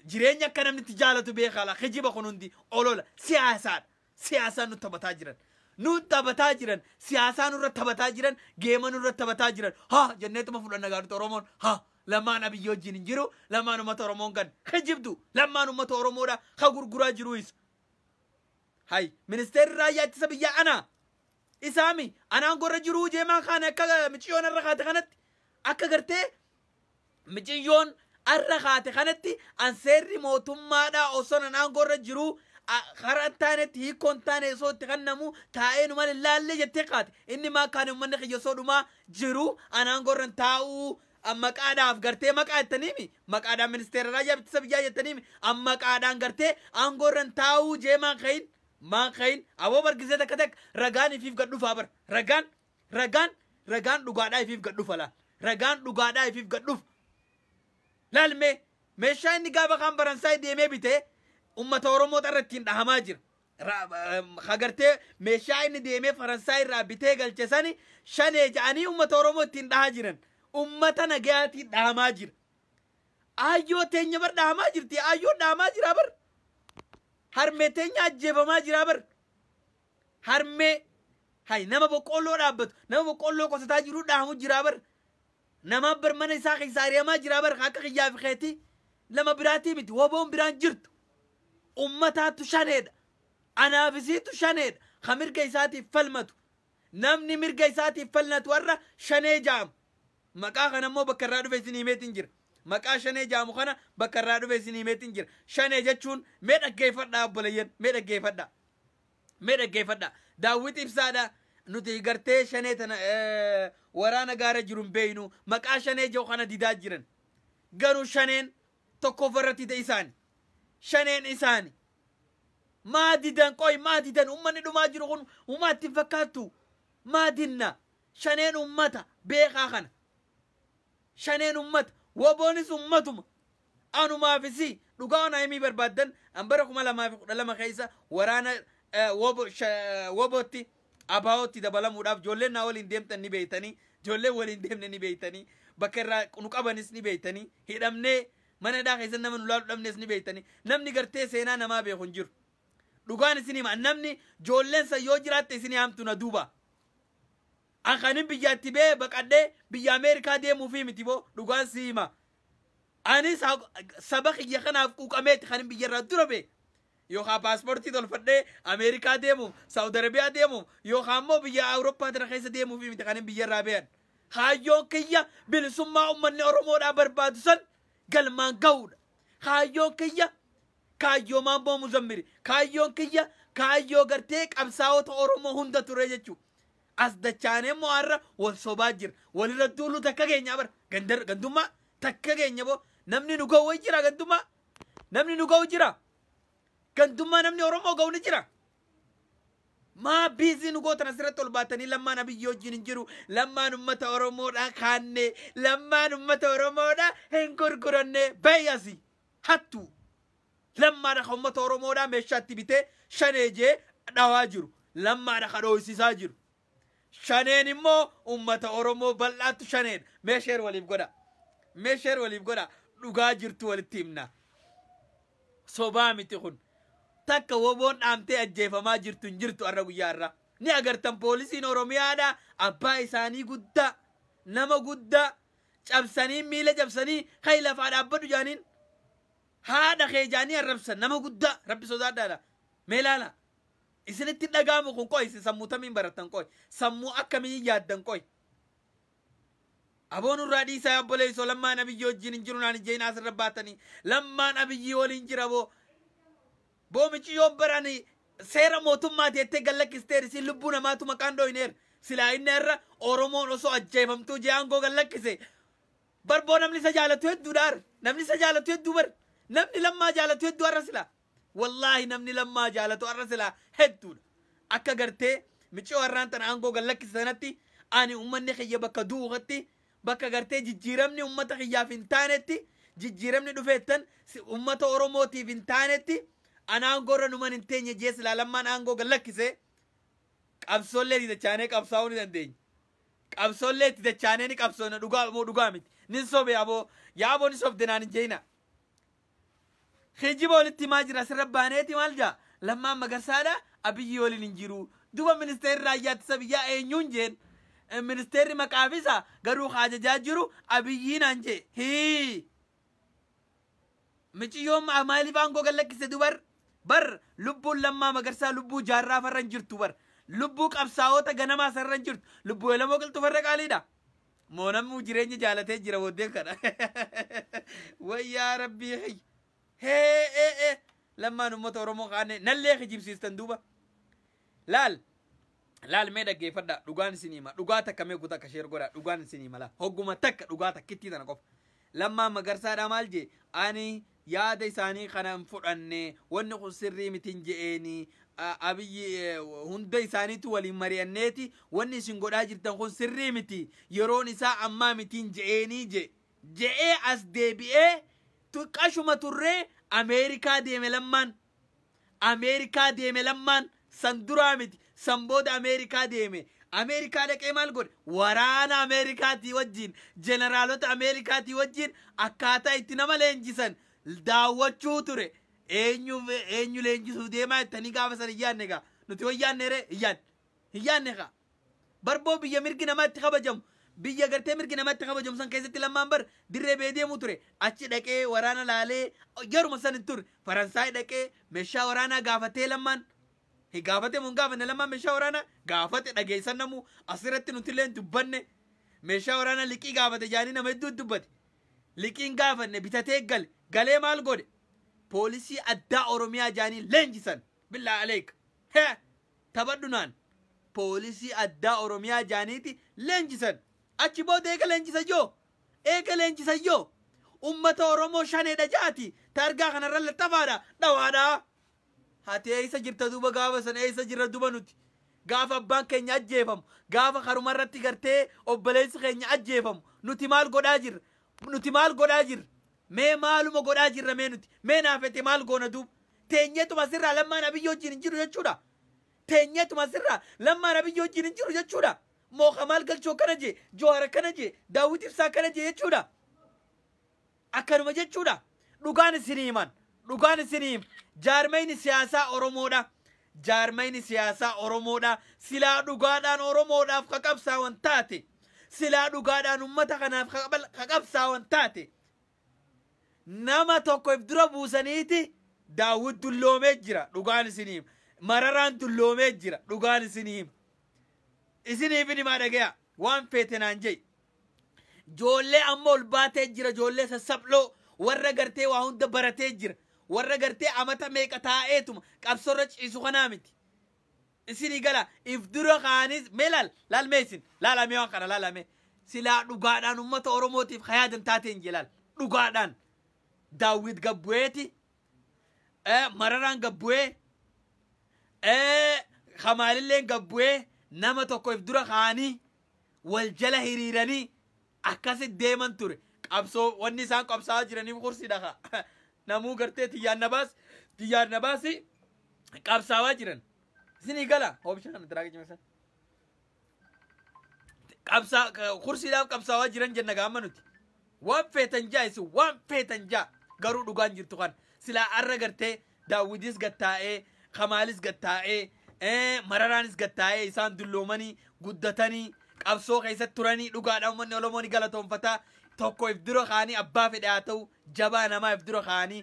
jireenya akka namni itti jaalatu beekaa laa kijiba kun hundi olola siyaasaadha. siyaasaa nu taphataa jiran nu taphataa jiran siyaasaa nurra taphataa jiran geema nurra taphataa jiran ha jenneetuma fudhanna gaadhuta oromoon ha lamaan abiyyi wajjin hin jiru lamaan ummata oromoon kan kijibdu lamaan ummata oromoodha ka gurguraa jiru isa hay ministeerri raayyaa ittisa biyyaa anaa isaami anaan gorra jiruu jeemaa kaan akka miciyoon irra kaate kanatti akka gartee miciyyoon arra kaate kanatti an seerri mootummaadhaa osoo nan aangoorra jiruu kara hin taanetti hiikkoo hin taane osoo itti kennamu taa'ee nu malee laallee jettee kaate inni maa kaane uummanni kiyya osoo dhumaa jiru an aangoorra hin taa'uu an maqaadhaaf gartee maqaa jettaniimi maqaadhaan ministeera raayyaa ittisa biyyaa jettaniimi an maqaadhaan gartee aangoorra hin taa'uu jee maan kahin maan kahin aboo bargisee takka takka ragaan ifiif gad dhufaa bar ragaan Ragaan ragaan dhugaadhaa ifiif gad dhufa laal. Ragaan dhugaadhaa ifiif gad dhufa. Laal mee meeshaa inni gaafa kaan Faransaay deemee bite ummata Oromoo irra ittiin dhahamaa jira. Hagartee meeshaa inni deemee Faransaay irraa bitee galche sani shanee ja'anii ummata Oromoo ittiin dhahaa jiran. Ummata nagayaatiin dhahamaa jira. Aayyoo teenya bar dhahamaa jirti. Aayyoo dhahamaa jira bar. Harmee teenya ajjeefamaa jira bar. harmee hay nama boqqoolloo dhaabbatu nama boqqoolloo qotataa jiru dhaamu jiraa bar namaa bar mana isaa keessaa ari'amaa jiraa bar akka kiyyaa fi keetii nama biraatii miti woboon biraan jirtu ummataatu shaneedha anaaf isiitu shaneedha ka mirga isaatiif falmatu namni mirga isaatiif falmatu warra shanee jaamu maqaa kana immoo bakka irraa dhufe isin himeetiin jira maqaa shanee jaamu kana bakka irraa dhufe isin himeetiin jira shanee jechuun mee dhaggeeffadhaa obboleeyyan mee dhaggeeffadhaa Mee dhaggeeffadha. Daawwit ibsaadha. Nuti gartee shanee tana eh, waraana gaara jiru hin beeynu. Maqaa shanee jiru kana didaa jiran. Garuu shaneen tokkoffaa irratti ta'e isaani. Shaneen isaani. Maa didan qoy maa didan ummanni dhumaa jiru kun umaa itti hin fakkaattu. Maa dinna. Shaneen ummata beekaa kana. Shaneen ummata. Waboonis ummatuma. Anumaa fi si, dhugaa na himii barbaaddan an bara 2012 keessa waraana wbo wobootti, ABOtti dabalamuudhaaf ijoolleen naa waliin deemtan ni beektanii, ijoolleen waliin deemne ni beektanii, bakka irraa nu qabanis ni beektanii, hidhamnee mana hidhaa keessatti nama nu laalu dhabnes ni beektanii, namni gartee seenaa namaa beeku hin jiru. Dhugaan isin hima namni ijoolleen san yoo jiraatte isin yaamtu na duuba. Akka anin biyyaa itti ba'ee baqadhee biyya Ameerikaa deemuufii miti boo dhugaan sii hima. Anis haq- saba kiyya kanaaf quuqameeti kanin biyyarraa dura ba'e. Yookaan paaspoortii tolfadhee Ameerikaa deemuuf, Saawud Arabiyaa deemuuf, yookaan immoo biyya Awurooppaa tana keessa deemuufii miti kanin biyyarraa ba'an. Kaayyoon kiyya bilisummaa ummanni Oromoodhaa barbaadu san galmaan ga'uudha. Kaayyoon kiyya kaayyoo Maammoo Muzammiri. Kaayyoon kiyya kaayyoo gartee qabsaa'ota Oromoo hunda ture jechuudha. As dachaanee immoo har'a wal sobaa jira. Walirra duuluu takka keenyaa bara. Gandar, gandummaa takka keenya boo. Namni nu ga'u wayi jira gandummaa. Namni nu ga'u jira. Gandummaa namni Oromoo ga'u ni jira. Maa biizii nu gootan asirratti ol baatanii lammaan abiyyi wajjin hin jiru. Lammaan ummata Oromoodha kaanne. Lammaan ummata Oromoodha hin gurguranne. Bayyasi. Hattuu. Lammaadha ka ummata Oromoodhaa meeshaa itti bitee Shanee jee dhawaa jiru. Lammaadha ka dhooysisaa jiru. Shaneen immoo ummata Oromoo bal'aattu Shaneedha. Mee share waliif godhaa. Mee share waliif godhaa. Dhugaa jirtu walitti himnaa. Sobaa miti kun. Takka woboon dhaamtee ajjeefamaa jirtu hin jirtu har'a guyyaa har'aa. Ni agartan poolisiin Oromiyaadha abbaa isaanii guddaa nama guddaa cabsanii miila cabsanii kai lafaa dhaabbadhu jaaniin haadha kee jaanii arrabsan nama guddaa rabbi sodaadhaadha mee laala isinitti dhagaamu kun qoy isin sammuu tamiin barattan qoy sammuu akkamiin yaaddan qoy aboon irraa dhiisaa obboleessoo lammaan abiyyii wajjin hin jiru naan ijjeen asirra baatanii lammaan abiyyii waliin jira boo boo miciyyoo baraan seera mootummaa teettee gallakkisteer isin lubbuu namaatu maqaan dhooyineer silaa inni irra oromoon osoo ajjeefamtuu jee aangoo gallakkise Bar boo namni isa jaalatu hedduudha ar namni isa jaalatu hedduu bar namni lammaa jaalatu hedduu arra silaa wallaahi namni lammaa jaalatu arra silaa hedduudha akka gartee miciyoo harraan tana aangoo gad lakkise sanatti ani ummanni kiyya bakka du'u katti bakka gartee jijjiiramni ummata kiyyaaf hin taanetti jijjiiramni dhufeettan si- ummata oromootiif hin taanetti an aangoo irra numan hin teenye jee silaa lammaan aangoo gad lakkise qabsoollee didachaanee qabsaa'uu ni dandeenya Qabsoollee itti dachaanee ni qabsoona dhugaa moo dhugaa miti. Nin sobe aboo. Yaa aboo ni sobde naan hin jeeyina. Kijiba walitti himaa jira sirra baaneeti maal jaa lammaan magarsaadha abiyyii waliin hin jiru duba ministeerri raayyaa ittisa biyyaa eenyuun jeen Eh, ministeerri maqaafisa garuu ka ajajaa jiru abiyyii naan jee hii Miciyyoon ma- maaliif aangoo gad lakkiste dubar? Bar lubbuun Lammaa Magarsaa lubbuu jaarraa farra hin jirtu bar. Lubbuu qabsaa'oota ganamaa sarara hin jirtu. Lubbuu Elemoo Qilxuu farra qaaliidha. Moo namuu jireenya jaalatee jira booddeen kana. Wayyaa rabbii hayy. Hee ee ee. Lammaan uummata Oromoo kaanee nallee kijibsiistan duuba. Laal! Laal mee dhaggeeffadhaa, dhugaan isinii hima, dhugaa takka mee gu takka share godhaa, dhugaan isinii hima laa, hogguma takka dhugaa takkittii tana qofa. Lammaa Magarsaadhaa maal jee? Ani yaada isaanii kana hin fudhanne, wanni kun sirrii mitin je'eeni, A- Abiyyi eh, hunda isaaniitu waliin mari'anneeti, wanni isin godhaa jirtan kun sirrii miti, yeroon isaa ammaa mitiin je'eenii je. Je'ee as deebi'ee tu- qashuma turree Ameerikaa deeme lammaan Ameerikaa deeme Lammaan san duraa miti san booda Ameerikaa deeme Ameerikaa dhaqee maal godhe waraana Ameerikaatii wajjiin jeneraalota Ameerikaatii wajjiin akkaataa itti nama leenjisan daawwachuu ture eenyu eenyu leenjisuu deemaa jettanii gaafa san hin yaadne gaa nuti wayyaanne ree hin yaadne hin yaadne kaa Barboo biyya mirgi namaa itti kabajamu biyya gartee mirgi namaa itti kabajamu san keessatti lammaan bar dirree bee deemuu ture achi dhaqee waraana laalee yeruma san hin turre faransaay dhaqee meeshaa waraanaa gaafatee lammaan Hi gaafate mun gaafanne lammaan meeshaa waraanaa gaafate dhageessan namuu asirratti nutillee hin dubbanne meeshaa waraanaa liqii gaafate jaanii nama hedduu dubbate liqiin gaafanne bitatee gale galee maal godhe poolisii addaa oromiyaa jaanii leenjisan Billah Aleek. He! Taphadhu naan. Poolisii addaa Oromiyaa jaaniiti leenjisan. Achi booda eega leenjisa yoo? Eega leenjisa yoo? Ummata Oromoo shaneedha jaati taargaa kanarra laxxafaadha dhawaadha. Hati eessa jirta duuba gaafa san eessa jirra duba nuti? Gaafa abbaan keenya ajjeefamu, gaafa karumarratti gartee obboleessi keenya ajjeefamu nuti maal godhaa jirra? Nuti maal godhaa jirra? Mee maaluma godhaa jirra mee nuti? Mee naa fete maal goona duub? Teenyeetuma asirraa Lammaan Abiyyi wajjin hin jiru jechuudha? Teenyeetuma asirraa Lammaan Abiyyi wajjin hin jiru jechuudha? Moo Kamaal Galchoo akkana jee, Joohar akkana jee, Daawwit Ibsaa akkana jee jechuudha? Akkanuma jechuudha? Dhugaan isinii himan. Dhugaan isinii jaarmayni siyaasaa Oromoodha. Jaarmayni siyaasaa Oromoodha. Silaa dhugaadhaan Oromoodhaaf ka qabsaawan taate, silaa dhugaadhaan ummata kanaaf ka qabal- ka qabsaawan taate, nama tokko if dura buusaniiti Daawwit dulloomee jira. Dhugaan isinii hima. Mararaan dulloomee jira. Dhugaan isinii hima. Isiniif hin himaa dhagayaa. Waan feete naan je'i. Joollee amma ol baatee jira joollee sassaph'loo warra gartee waa hunda baratee jira warra gartee amata meeqa taa'eetuma qabsorra ciisu kanaa miti. Isinii gala if dura kaanis mee laal laal mee isin laala mee waan kana laala mee silaa dhugaadhaan ummata Oromootiif hayaadan taateen jee laal dhugaadhaan daawwit gabbu'eeti eh, mararaan gad bu'ee eh, kamaalilleen gad bu'ee nama tokko if dura kaanii wal jala hiriiranii akkasi deeman ture qabsoo wanni isaan qabsaa'aa jiraniif kursiidha ka namuu gartee tiyyaan nabaas tiyyaan nabaasi qabsaawaa jiran isinii gala hoobishaan tiraakii cimsan qabsaa kursiidhaaf qabsaawaa jiran jenna gaamma nuti waan feetan jaa isin waan feetan jaa garuu dhugaan jirtu kan silaa arra gartee daawwitis gattaa'ee kamaalis gattaa'ee ee, mararaanis gattaa'ee isaan dulloomanii guddatanii qabsoo keessatti turanii dhugaadha uummanni oromoo ni galatoonfataa tokko if dura kaanii abbaa fedhe haa ta'u jabaa namaa if dura kaanii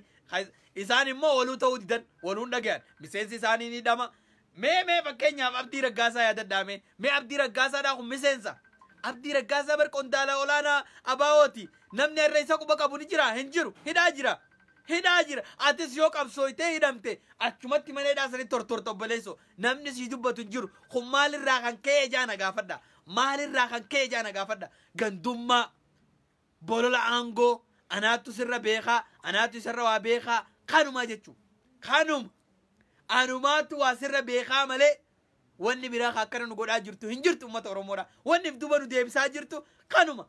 isaan immoo waluu ta'uu didan waluun dhagayan miseensi isaanii ni dhama Mee mee fakkeenyaaf Abdii Raggaasaa yaadadhaa mee. Mee Abdii Raggaasaadhaa kun miseensa. Abdii Raggaasaa bar qondaala olaanaa ABOti. Namni har'a isa quba qabu ni jira hin jiru. Hidhaa jira. Hidhaa jira. Atis yoo qabsooytee hidhamte achumatti mana hidhaa sanitti tortorta obboleessoo. Namni sii dubbatu hin jiru. Kun maalirraa kan ka'e ijaa na gaafadha. Maalirraa kan ka'e ijaa na gaafadha. Gandummaa. Bolola aangoo anaattu sirra beekaa anaattu isarra waa beekaa kanumaa jechu kanuma anumaattu waa sirra beekaa malee wanni biraa ka akkana nu godhaa jirtu hin jirtu ummata oromoodha wanni if duba nu deebisaa jirtu kanuma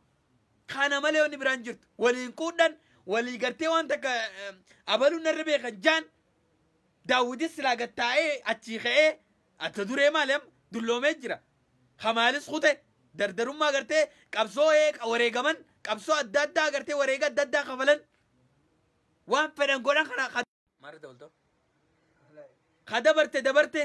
kana malee wanni biraa hin jirtu waliin quudhan walii gartee waan takka eh, abaluun narra beekan jaan daawwitis silaa gattaa'ee achii ka'ee Atta duree maali amma dulloomee jira ka maalis kute dardarummaa agartee qabsoo eeqa wareegaman qabsoo adda addaa agartee wareega adda addaa kafalan waan fedhan godhan kana ka maarri dabaltoo ka dabarte dabarte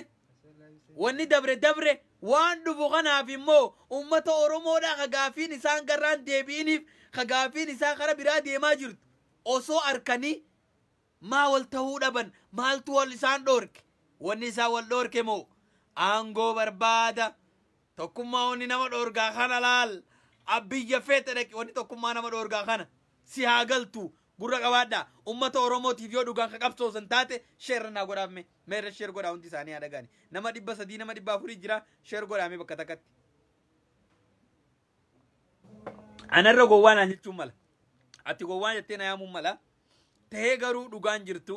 wanni dabre dabre waan dhufu kanaaf immoo ummata oromoodhaa ka gaafiin isaan garraan deebi'iniif ka gaafiin isaa kara biraa deemaa jirtu osoo arkanii Maa wal tahuu dhaban? Maaltu wal isaan dhoorke? Wanni isaan wal dhoorke moo? Aangoo barbaada. Tokkummaa wanni nama dhoorgaa kana laal. Abbiyya feete dhaqi wanni tokkummaa nama dhoorgaa kana. Si haa galtu. Gurra qabaadha. Ummata Oromootiif yoo dhugaan ka qabsoosan taate sheerra naa godhaaf mee. Meerra sheer godhaa hundi isaanii haa dhagaani. Nama dhibba sadii nama dhibba afurii jira sheer godhaa mee bakka takkatti. Anarra gowwaa naan jechuun mala. Ati gowwaa jettee na yaamuun mala. Tahee garuu dhugaan jirtu.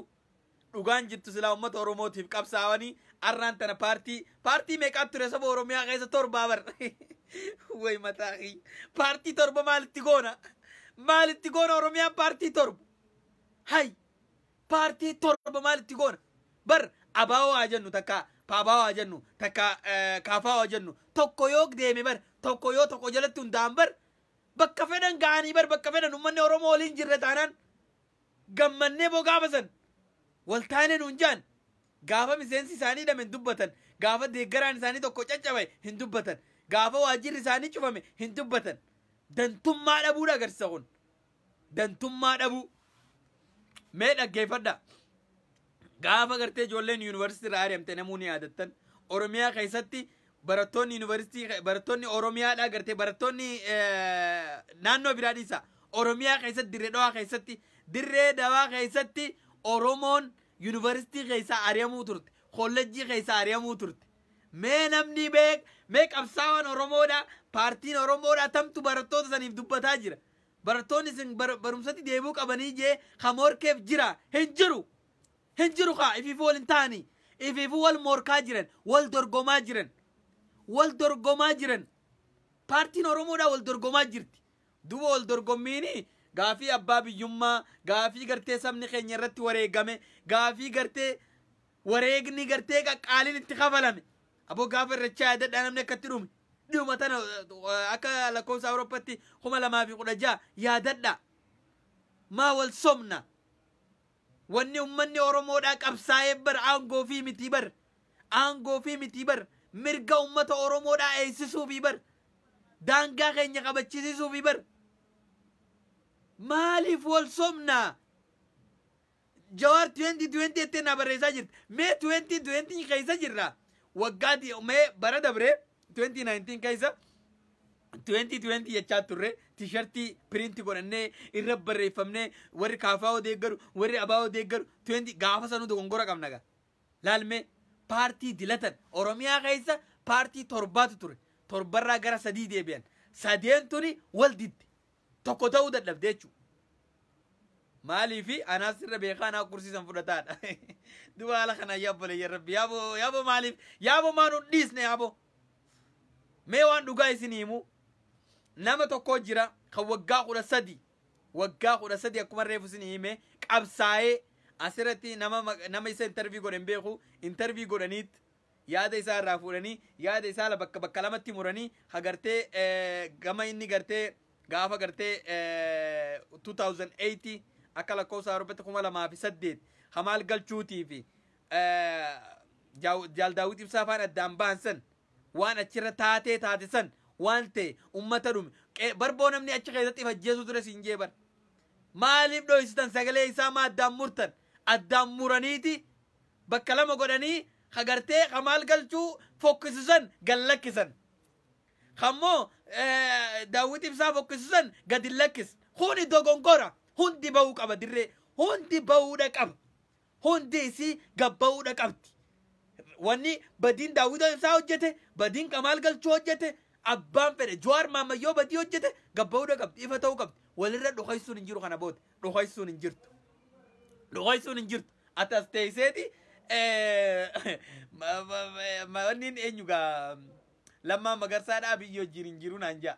Dhugaan jirtu silaa uummata Oromootiif qabsaawanii arraan tana paartii paartii meeqaa ture saba Oromiyaa keessa torbaa bar. Way mataa kiyya. Paartii torba maalitti goona? Maalitti goona Oromiyaan paartii torba? Hay! Paartii torba maal itti goona? Bar abaawoo haa jennu takka paabaawoo haa jennu takka eh, kaafaawoo haa jennu tokko yoo deeme bar tokko yoo tokko jalatti hundaa'an bar bakka fedhan ga'anii bar bakka fedhan uummanni Oromoo waliin jirre taanaan gammannee boo gaafa san waltaanee nuun jaan gaafa miseensi isaanii hidhame hin dubbatan gaafa deeggaraan isaanii tokko caccabe hin dubbatan gaafa waajjirri isaanii cufame hin dubbatan dantummaa dhabuudha agarsiisa kun dantummaa dhabuu mee dhaggeeffadha gaafa gartee ijoolleen yuunivarsiitii irraa ari'amte namuu ni yaadattan oromiyaa keessatti barattoonni yuunivarsiitii barattoonni oromiyaadhaa gartee barattoonni eh, naannoo biraa dhiisa oromiyaa keessatti dirree dhawaa keessatti dirree dhawaa keessatti oromoon yuunivarsiitii keessaa ari'amuu turte kollejjii keessaa ari'amuu turte mee namni beek mee qabsaawaan oromoodha paartiin oromoodha tamtu barattoota saniif dubbataa jira Barattoonni isin barumsatti deebi'uu qabanii jee ka moorkeef jira hin jiru! Hin jiru kaa ifiifuu wal hin tahanii! Ifiifuu wal moorkaa jiran, wal dorgomaa jiran! Wal dorgomaa jiran! Paartiin Oromoodhaa wal dorgomaa jirti! Duuba wal dorgommiini gaafii abbaa biyyummaa, gaafii gartee sabni keenya irratti wareegame, gaafii gartee wareegni gartee qaqqaaliin itti kafalame! Aboo gaafa irrachaa yaadadhaa namni akka itti dhume. Dhiyuma tana akka lakkoofsa Awurooppatti kuma lamaa fi kudha ja'a yaadadhaa. Maa wal sobna. Wanni ummanni Oromoodhaa qabsaa'ee bar aangoo fi mitii bar. Aangoo fi mitii bar. Mirga ummata Oromoodhaa eegsisuu fi bar. Daangaa keenya kabachisiisuu fi bar. Maaliif wal sobnaa? Jawar 2020 jettee naa barreessaa jirta. Mee 2020 keessa jirra. Waggaa di- mee bara dabre 2019 keessa 2020 jechaa turre tishartii piriinti godhannee irra barreeffamnee warri kaafaa odeeggaru warri abaa odeeggaru 20 gaafa sanuu dogongora qabna gaa. Laalmee paartii dilatan Oromiyaa keessa paartii torbaatu ture. Torbarraa gara sadii deebi'an. Sadeen tuni wal didde. tokko ta'uu dadhabde jechuudha. Maaliifi anaa sirra beekaa anaa kursiisan fudhataadha. Duba haala kana yaa obboleeyya rabbi yaaboo yaaboo maaliif yaaboo maa nu dhiisne yaaboo. Mee waan dhugaa isin himu nama tokko jira kan waggaa kudha sadi waggaa kudha sadi akkuma reefu isin hime qabsaa'ee asirratti nama nama isa intarvii godhe hin beeku intarvii godhaniitti yaada isaa irraa fuudhanii yaada isaa la bakka bakka lamatti muranii ha gartee gama inni gartee gaafa gartee 2008 akka lakkoofsa Awurooppatti 2008 hamaal galchuutii fi jaal daawwit ibsaa faan addaan bahan san waan achirra taatee taate san waan ta'e ummata dhume barboo namni achi keessatti if ajjeesuu ture siin jee bar maaliif dhoysitan sagalee isaa maa addaan murtan addaan muraniiti bakka lama godhanii ka gartee ka maal galchuu fokkisu san gad lakkisan kammoo daawwit ibsaa fokkisu san gad hin lakkis kuni dogonkora hundi ba'uu qaba dirree hundi ba'uudha qaba hundi isii gad ba'uudha qabdi wanni badiin daawwit ibsaa hojjete badiin kamaal galchuu hojjete abbaan fedhe jawaar maammayyoo badii hojjete gad ba'uudha qabdi ifa ta'uu qabdi walirra dhukeessuun hin jiru kana booda dhokaisuun hin jirtu. Dhokaisuun hin jirtu. Ati as teesseeti wanniin eenyu gaa lammaa magarsaadha abiyyi wajjin hin jiru naan ja'a.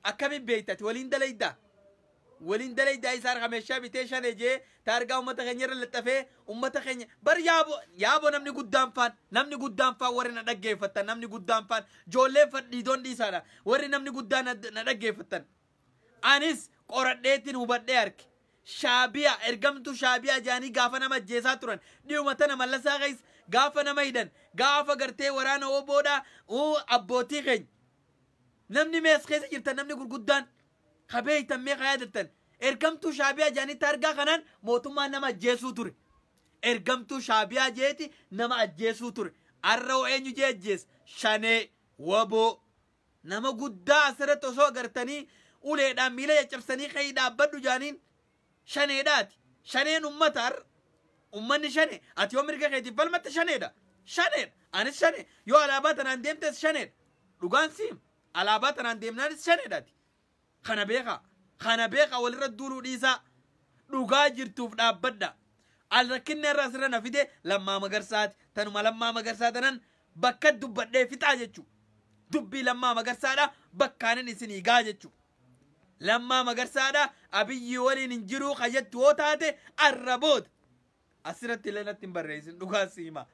Akkamiin beekta ati waliin dalaydaa? Waliin dalaydaa isaa harka meeshaa bitee shan ejee taargaa uummata keenya irra laxxafee uummata keenya bar yaabo yaabo namni guddaan faan namni guddaan faan warri na dhaggeeffattan namni guddaan faan joolleen fadhiidoon dhiisaadha warri namni guddaan na dhaggeeffattan. Anis qoradheetin hubadhee arke. Shaabiyaa, ergamtuu shaabiyaa jedhanii gaafa nama ajjeesaa turan. Dhiyuma tana Mallasaa keessa gaafa nama hidhan, gaafa gartee waraana wbo dha, uu abbootii keenya. Namni mee as keessa jirtan namni gurguddaan ka beektan mee ka yaadattan. Ergamtuu shaabiyaa jedhanii taargaa kanaan mootummaan nama ajjeesuu ture. Ergamtuu shaabiyaa jeeti nama ajjeesuu ture. Arra hoo eenyu jee ajjeesa? Shanee, wbo. Nama guddaa asirratti osoo agartanii uleedhaan miila caccabsanii ka'ii dhaabbadhu jaaniin shaneedhaati. Shaneen ummata har'a. Ummanni shane ati yoo mirga keetiif falmatte shaneedha. Shaneedha. Anis shane yoo alaabaa tanaan deemtes shaneedha. Dhugaan siim alaabaa tanaan deemnaanis shaneedhaati. Kana beekaa. Kana beekaa walirra duuluu dhiisaa. Dhugaa jirtuuf dhaabbadha. Al rakkinni har'a asirra na fide Lammaa Magarsaati. Tanuma Lammaa Magarsaa tanan bakka dubbadhee fixaa jechuu. Dubbii Lammaa Magarsaadha bakkaanin isinii gaa jechuu. Lammaa Magarsaadha Abiyyii waliin hin jiruu ka jettu yoo taate arra booda. Asirratti illee natti hin barreessin dhugaa si hima.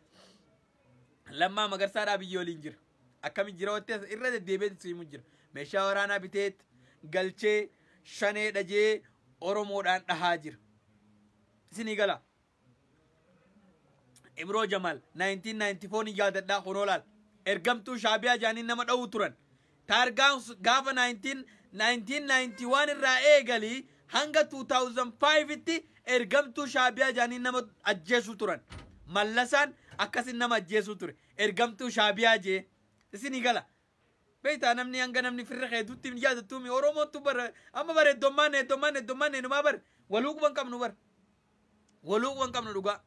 Lammaa magarsaadhaa biyya waliin jira. Akkami jira wanti as- irra deddeebi'eetti si himu jira. Meeshaa waraanaa biteet galchee shanee dhajee Oromoodhaan dhahaa jira. Isinii gala. Ibroo Jamaal 1994 ni yaadadhaa kunoo laal. Ergamtuu shaabiyaa jaaniin nama dha'uu turan. Taargaan sun gaafa 19, 1991 irraa eegalii hanga 2005 tti ergamtuu Shaabiyaa jedhanii nama ajjeesuu turan. Mallasaan akkasin nama ajjeesuu ture. Ergamtuu Shaabiyaa jee. Isinii gala. Beektaa namni hanga namni firra kee dutti hin yaadattuumi. Oromoottu bara amma bara heddommaan heddommaan heddommaan eenumaa bara waluu quban qabnu bara. Waluu wan qabnu dhugaa.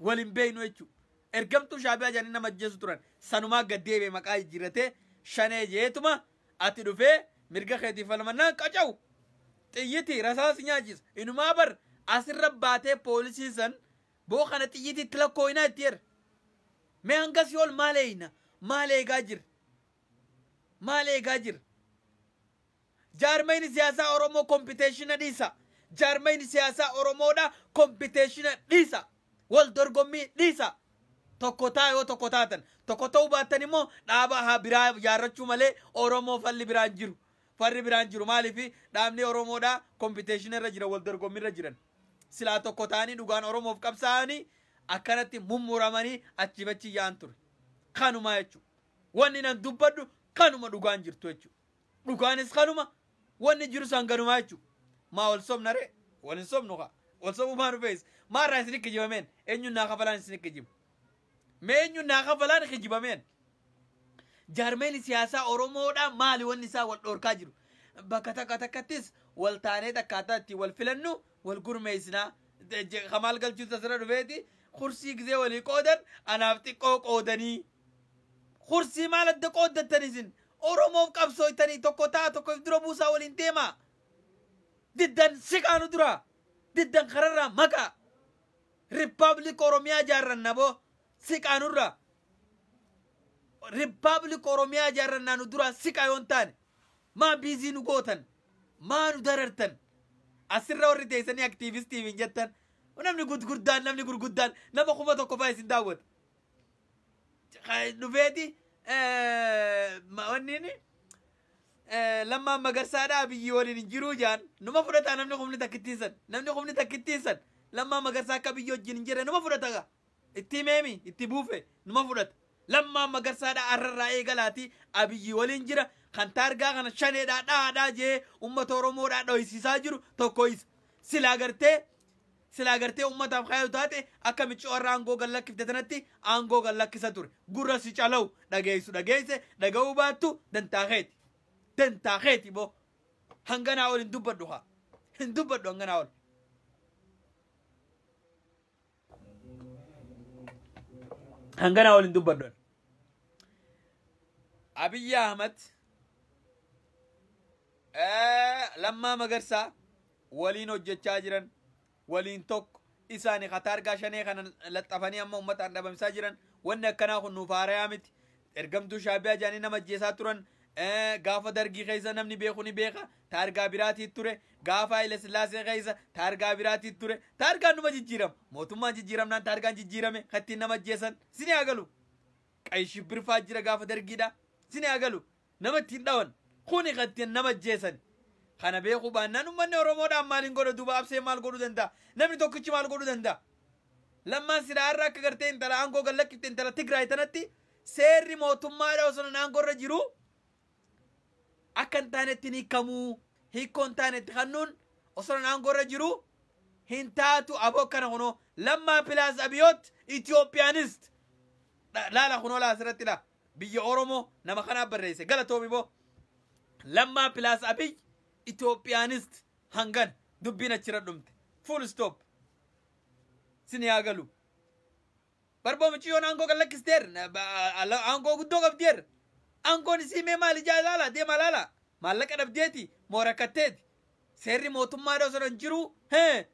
Wal hin beeknu jechuu. Ergamtuu shaabiyaa jedhanii nama ajjeesu turan. Sanumaa gad deebi'e maqaa jijjiirratee shanee jeetuma ati dhufee mirga keetiif falmannaan qacawu. Xiyyiti rasaasi nyaachisa. Inumaa bar asirra baatee poolisii san boo kana xiyyiti itti lakkooyinaa itti jedha. Mee hanga si'ool maal eeyna? Maal eegaa jirra? Maal eegaa jirra? Jaarmayni siyaasaa Oromoo kompiteeshina dhiisa! Jaarmayni siyaasaa Oromoodha kompiteeshina dhiisa! Wal dorgommii dhiisa! Tokko taa yoo tokko taatan. Tokko ta'uu baattan immoo dhaaba haa biraa ijaarrachuu malee Oromoo falli biraa hin jiru. Farri biraa hin jiru. Maaliif dhaabni Oromoodha kompiteeshina irra jira wal dorgommii irra jiran. Silaa tokko ta'anii dhugaan Oromoof qabsaa'anii akkanatti mummuramanii achiif achi yaa'an ture. Kanumaa jechuudha. Wanni nan dubbadhu kanuma dhugaan jirtu jechuudha. Dhugaanis kanuma, wanni jirus hanganumaa jechu. Maa wal sobna ree? Wal hin sobnu kaa. Wal sobuu maa nu feesisa? Maa irraa isin kijibameen? Eenyuun naa kafalaan isin kijibu? Mee eenyuun naa kafalaan kijibameen? Jaarmeen siyaasaa Oromoodhaa maali wanni isaa wal dhoorkaa jiru? Bakka takka takkattis wal taanee takkaataa ittiin wal filannu wal gurmeessinaa. Kamaal galchuutu asirra dhufeeti. Kursii gizee walii qoodan anaaf xiqqoo qoodanii. Kursii maal adda qooddattan isin? Oromoof qabsooytanii tokko ta'a tokko if dura buusaa waliin deemaa. Diddan siqaa nu duraa. Diddan kararraa maqaa. Republic Oromiyaa jaarranna boo siqaa nurraa. Republic Oromiyaa jaarrannaa nu duraa siqaa yoon taane. Maa biizii nu gootan. Maa nu darartan. Asirra warri teessanii aktiivistiif hin jettan. Namni gurguddaan namni gurguddaan nama kuma tokko fa'aa isin daawwata. dhufeeti wanniin lammaan magarsaadha abiyyi waliin hin jiruu jaan numa fudhata namni kumni takkittiin san namni kumni takkittiin san lammaan magarsaa akka abiyyi wajjin hin jirre numa fudhata gaa itti meemi itti buufe numa fudhata lammaan magarsaadha arrarraa eegalaati abiyyi waliin jira kan taargaa kana shaneedhaa dhaadhaa jee ummata oromoodhaa dhoysiisaa jiru tokko isa silaa gartee Silaa gartee ummataaf kaayu taate akka miccoo har'a aangoo gad lakkifte tanatti aangoo gad lakkisa ture. Gurra si calawu dhageeysu dhageeyse dhaga'uu baattu dantaa keeti. Dantaa keeti boo. Hanganaa ol hin dubbadhu kaa. Hin dubbadhu hanganaa ol. Hanganaa ol hin dubbadhu. Abiyyi Ahmad eh, Lammaa Magarsaa waliin hojjechaa jiran waliin tokko isaani ka taargaa shanee kana laxxafanii amma ummataan dhabamsaa jiran wanni akkanaa kun nuuf haarayaa miti ergamtuu shaabiyaa jaanii nama ajjeesaa turan eh, gaafa dargii keessa namni beeku ni beeka taargaa biraatii ture gaafa haile sillaasee keessa taargaa biraatii ture taargaan numa jijjiirama mootummaan jijjiiramnaan taargaan jijjiirame kattiin nama ajjeesan sini hagalu qayi shibbirfaa jira gaafa dargiidha sini hagalu Nama ittiin dhawan. Kuni kan ittiin nama ajjeesani. Kana beekuu baannaan ummanni Oromoo dhaan maal hin godha duuba Abseen maal godhuu danda'a? Namni tokkichi maal godhuu danda'a? Lammaan silaa har'a akka gartee intala aangoo gad lakkifte intala Tigraay tanatti seerri mootummaa dha osoo nan aangoo irra jiruu akka hin taanetti hin hiikamuu hiikkoo hin taanetti kannuun osoo nan aangoo irra jiruu hin taatu aboo kana kunoo lammaa pilaas abiyoot Itoophiyaanist laala kunoo laa asirratti laa biyya oromoo nama kanaa barreesse galatoomi boo lammaa pilaas abiy itoophiyaanist hangan dubbiin achira dhumte full stop sin yaa galu barboo miciyyoon aangoo kan lakkisteer aangoo guddoo qabdeer aangoon isii mee maal ijaa ilaala deema ilaala maallaqa dhabdeeti moo rakkatteeti seerri mootummaa dha osoo hin jiruu hee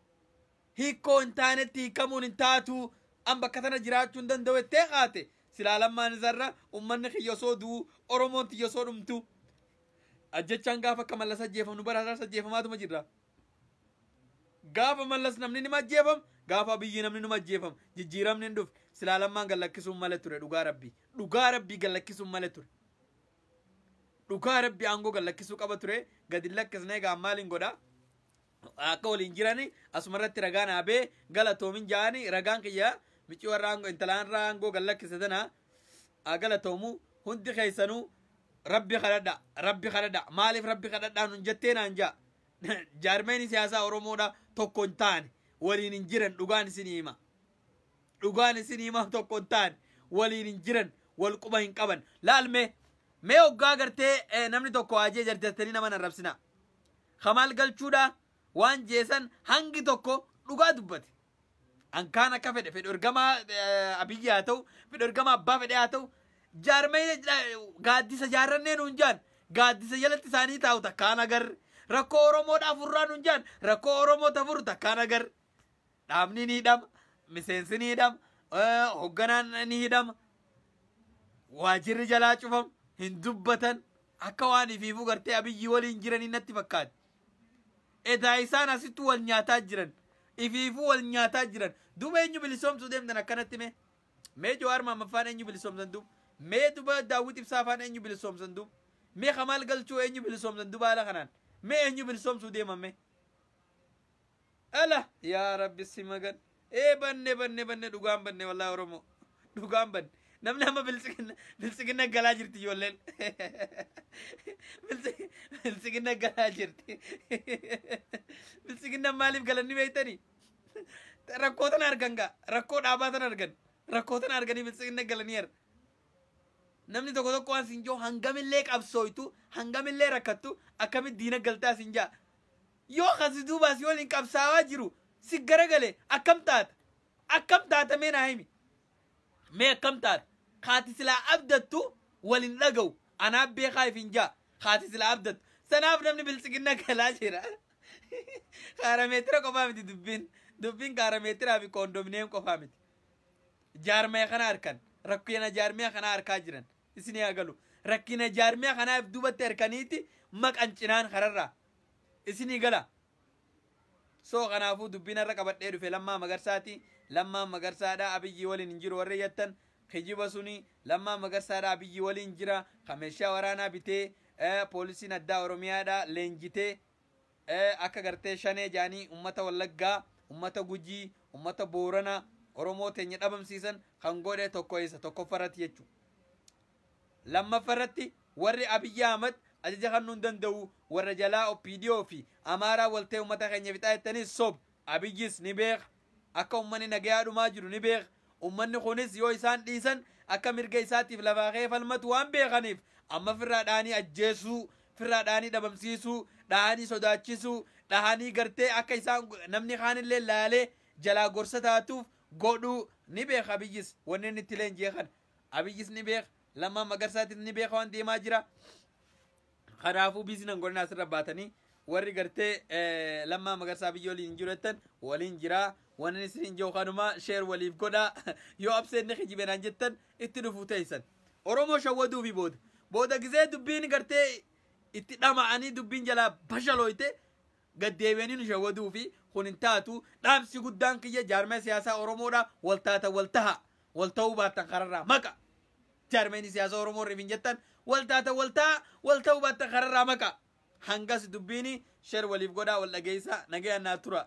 hiikkoo hin taanetti hiikkamuun hin taatu, an bakka tana jiraachuu hin danda'u jettee kaate, silaa Lammaan isarra ummanni kiyya osoo du'u, Oromoon tiyya osoo dhumtu, ajjechaan gaafa akka Mallas ajjeefamnu bara har'aas ajjeefamaatuma jirra. Gaafa Mallas namni nima ajjeefama, gaafa Abiyyi namni numa ajjeefama. Jijjiiramni hin dhufne. Silaa Lammaan gad lakkisuun male ture dhugaa Rabbii. Dhugaa Rabbii gad lakkisuun male ture. Dhugaa Rabbii aangoo gad lakkisuu qaba ture. Gad hin lakkisne egaa maaliin godhaa? akka waliin jirani asuma irratti ragaa naa bee galatoomin jaani ragaan kiyya micii warra aangoo intalaan irraa aangoo gad lakkise tana haa galatoomu hundi keessanuu rabbi kadhadha rabbi kadhadha maaliif rabbi kadhadhaa nun jettee naan jaa jaarmeen siyaasaa oromoodha tokko hin taane waliin hin jiran dhugaan isin hima dhugaan isin hima tokko hin taane waliin hin jiran wal quba hin qaban laalme mee oggaa gartee eh, namni tokko ajee jarjartanii nama narrabsinaa Kamaal Galchuudhaa waan jee san hangi tokko dhugaa dubbate. An kaan akka fedhe fedhu ergamaa eh, Abiyyi haa ta'u fedhu ergamaa abbaa fedhee haa ta'u jaarmee gaaddisa jaarrannee nuun jaan gaaddisa jalatti isaanii taa'u takkaan agarre rakkoo Oromoo dhaafurraa nuun jaan rakkoo Oromoo tafuru takkaan agarre. dhaabni ni hidhama miseensi ni hidhama eh, hogganaan ni hidhama waajirri jalaa cufamu hin dubbatan akka waan ifiifuu gartee abiyyi waliin jiranii natti fakkaate edaa isaan asitti wal nyaataa jiran ifiifuu wal nyaataa jiran duba eenyu bilisoomsuu deemtan akkanatti mee mee jawaar maammaffaan eenyu bilisoomsan duub mee duba daawwit ibsaafaan eenyu bilisoomsan duub mee kamaal galchuu eenyu bilisoomsan duba haala kanaan mee eenyu bilisoomsuu deeman mee Ala yaa rabbi si magan ee banne banne banne dhugaan banne wallahi oromoo dhugaan banne namni amma biltsiginna biltsiginna galaa jirti ijoolleen Biltsi- biltsiginna galaa jirti biltsiginna maaliif galanni beektanii rakkoo tana argan gaa rakkoo dhaabaa tana argan rakkoo tana arganii biltsiginna galanii arga namni tokko tokko waan siin jiru hangamillee qabsooytu hangamillee rakkattu akkamitti diina galtaa siin jaa Yoo kan si duubaa si waliin qabsaawaa jiru si garagale akkam taata? Akkam taata mee naa himi? Mee akkam taata? Ka ati silaa abdattu wal hin dhagahu. Anaa beekaa ifin jaa. Ka ati silaa abdattu. Sanaaf namni biltsiginna galaa jira. Kaarameetira qofaa miti dubbiin. Dubbiin kaarameetiraa fi koondomineem qofaa miti. Jaarmaya kana harkan. Rakkina jaarmaya kanaa harkaa jiran. Isinii haa galu. Rakkina jaarmaya kanaa if duubatti harkaniiti maqan cinaan kararraa. isinii gala. So kanaafuu dubbiin har'a qabadhee dhufe Lammaa Magarsaati. Lammaan Magarsaadha Abiyyii waliin hin jiru warri jettan kijiba suni Lammaan Magarsaadha Abiyyii waliin jira ka meeshaa waraanaa bitee eh, poolisiin addaa Oromiyaadha leenjitee eh, akka gartee shanee jaanii ummata Wallaggaa, ummata Gujii, ummata Boorana Oromoo teenya dhabamsiisan kan godhe tokko isa tokkoffarratti jechuudha. Lammaffarratti warri Abiy Ahmad ajaja kannuu hin danda'uu warra jalaa opdo fi Amaaraa wal ta'ee ummata keenya fixaa jettanis soba. Abiyyis ni beeka. Akka ummanni nagayaa dhumaa jiru ni beeka. Ummanni kunis yoo isaan dhiisan akka mirga isaatiif lafaa ka'ee falmatu waan beekaniif amma firraa dhahanii ajjeesuu, firraa dhahanii dhabamsiisuu, dhahanii sodaachisuu, dhahanii gartee akka isaan namni kaanillee laalee jalaa gorsa taatuuf godhuu ni beeka Abiyyis wanni inni itti leenji'e kana. Abiyyis ni beeka. Lammaa Magarsaatis ni beeka waan deemaa jira. Kanaafuu biizii nan godhina asirra baatanii warri gartee eh, lammaa magarsaa biyya waliin hin jiru jettan waliin jira. Wanni isin hin jiru kanuma sheer waliif godha. Yoo abseen ni kijibe naan jettan itti dhufuu teessan. Oromoo shawwaduu fi booda. Booda gizee dubbiin gartee itti dhama'anii dubbiin jalaa bashalooyte gad deebi'anii nu shawwaduu fi kun hin taatu dhaamsi guddaan kiyya jaarmaya siyaasaa Oromoodha wal taatan wal taha wal ta'uu baattan kararraa maqa jaarmayni siyaasaa Oromoo warri hin jettan wal taatan wal taha wal ta'uu baattan kararraa maqa hangas dubbiini sher waliif godhaa wal dhageessaa nagayaan naa tura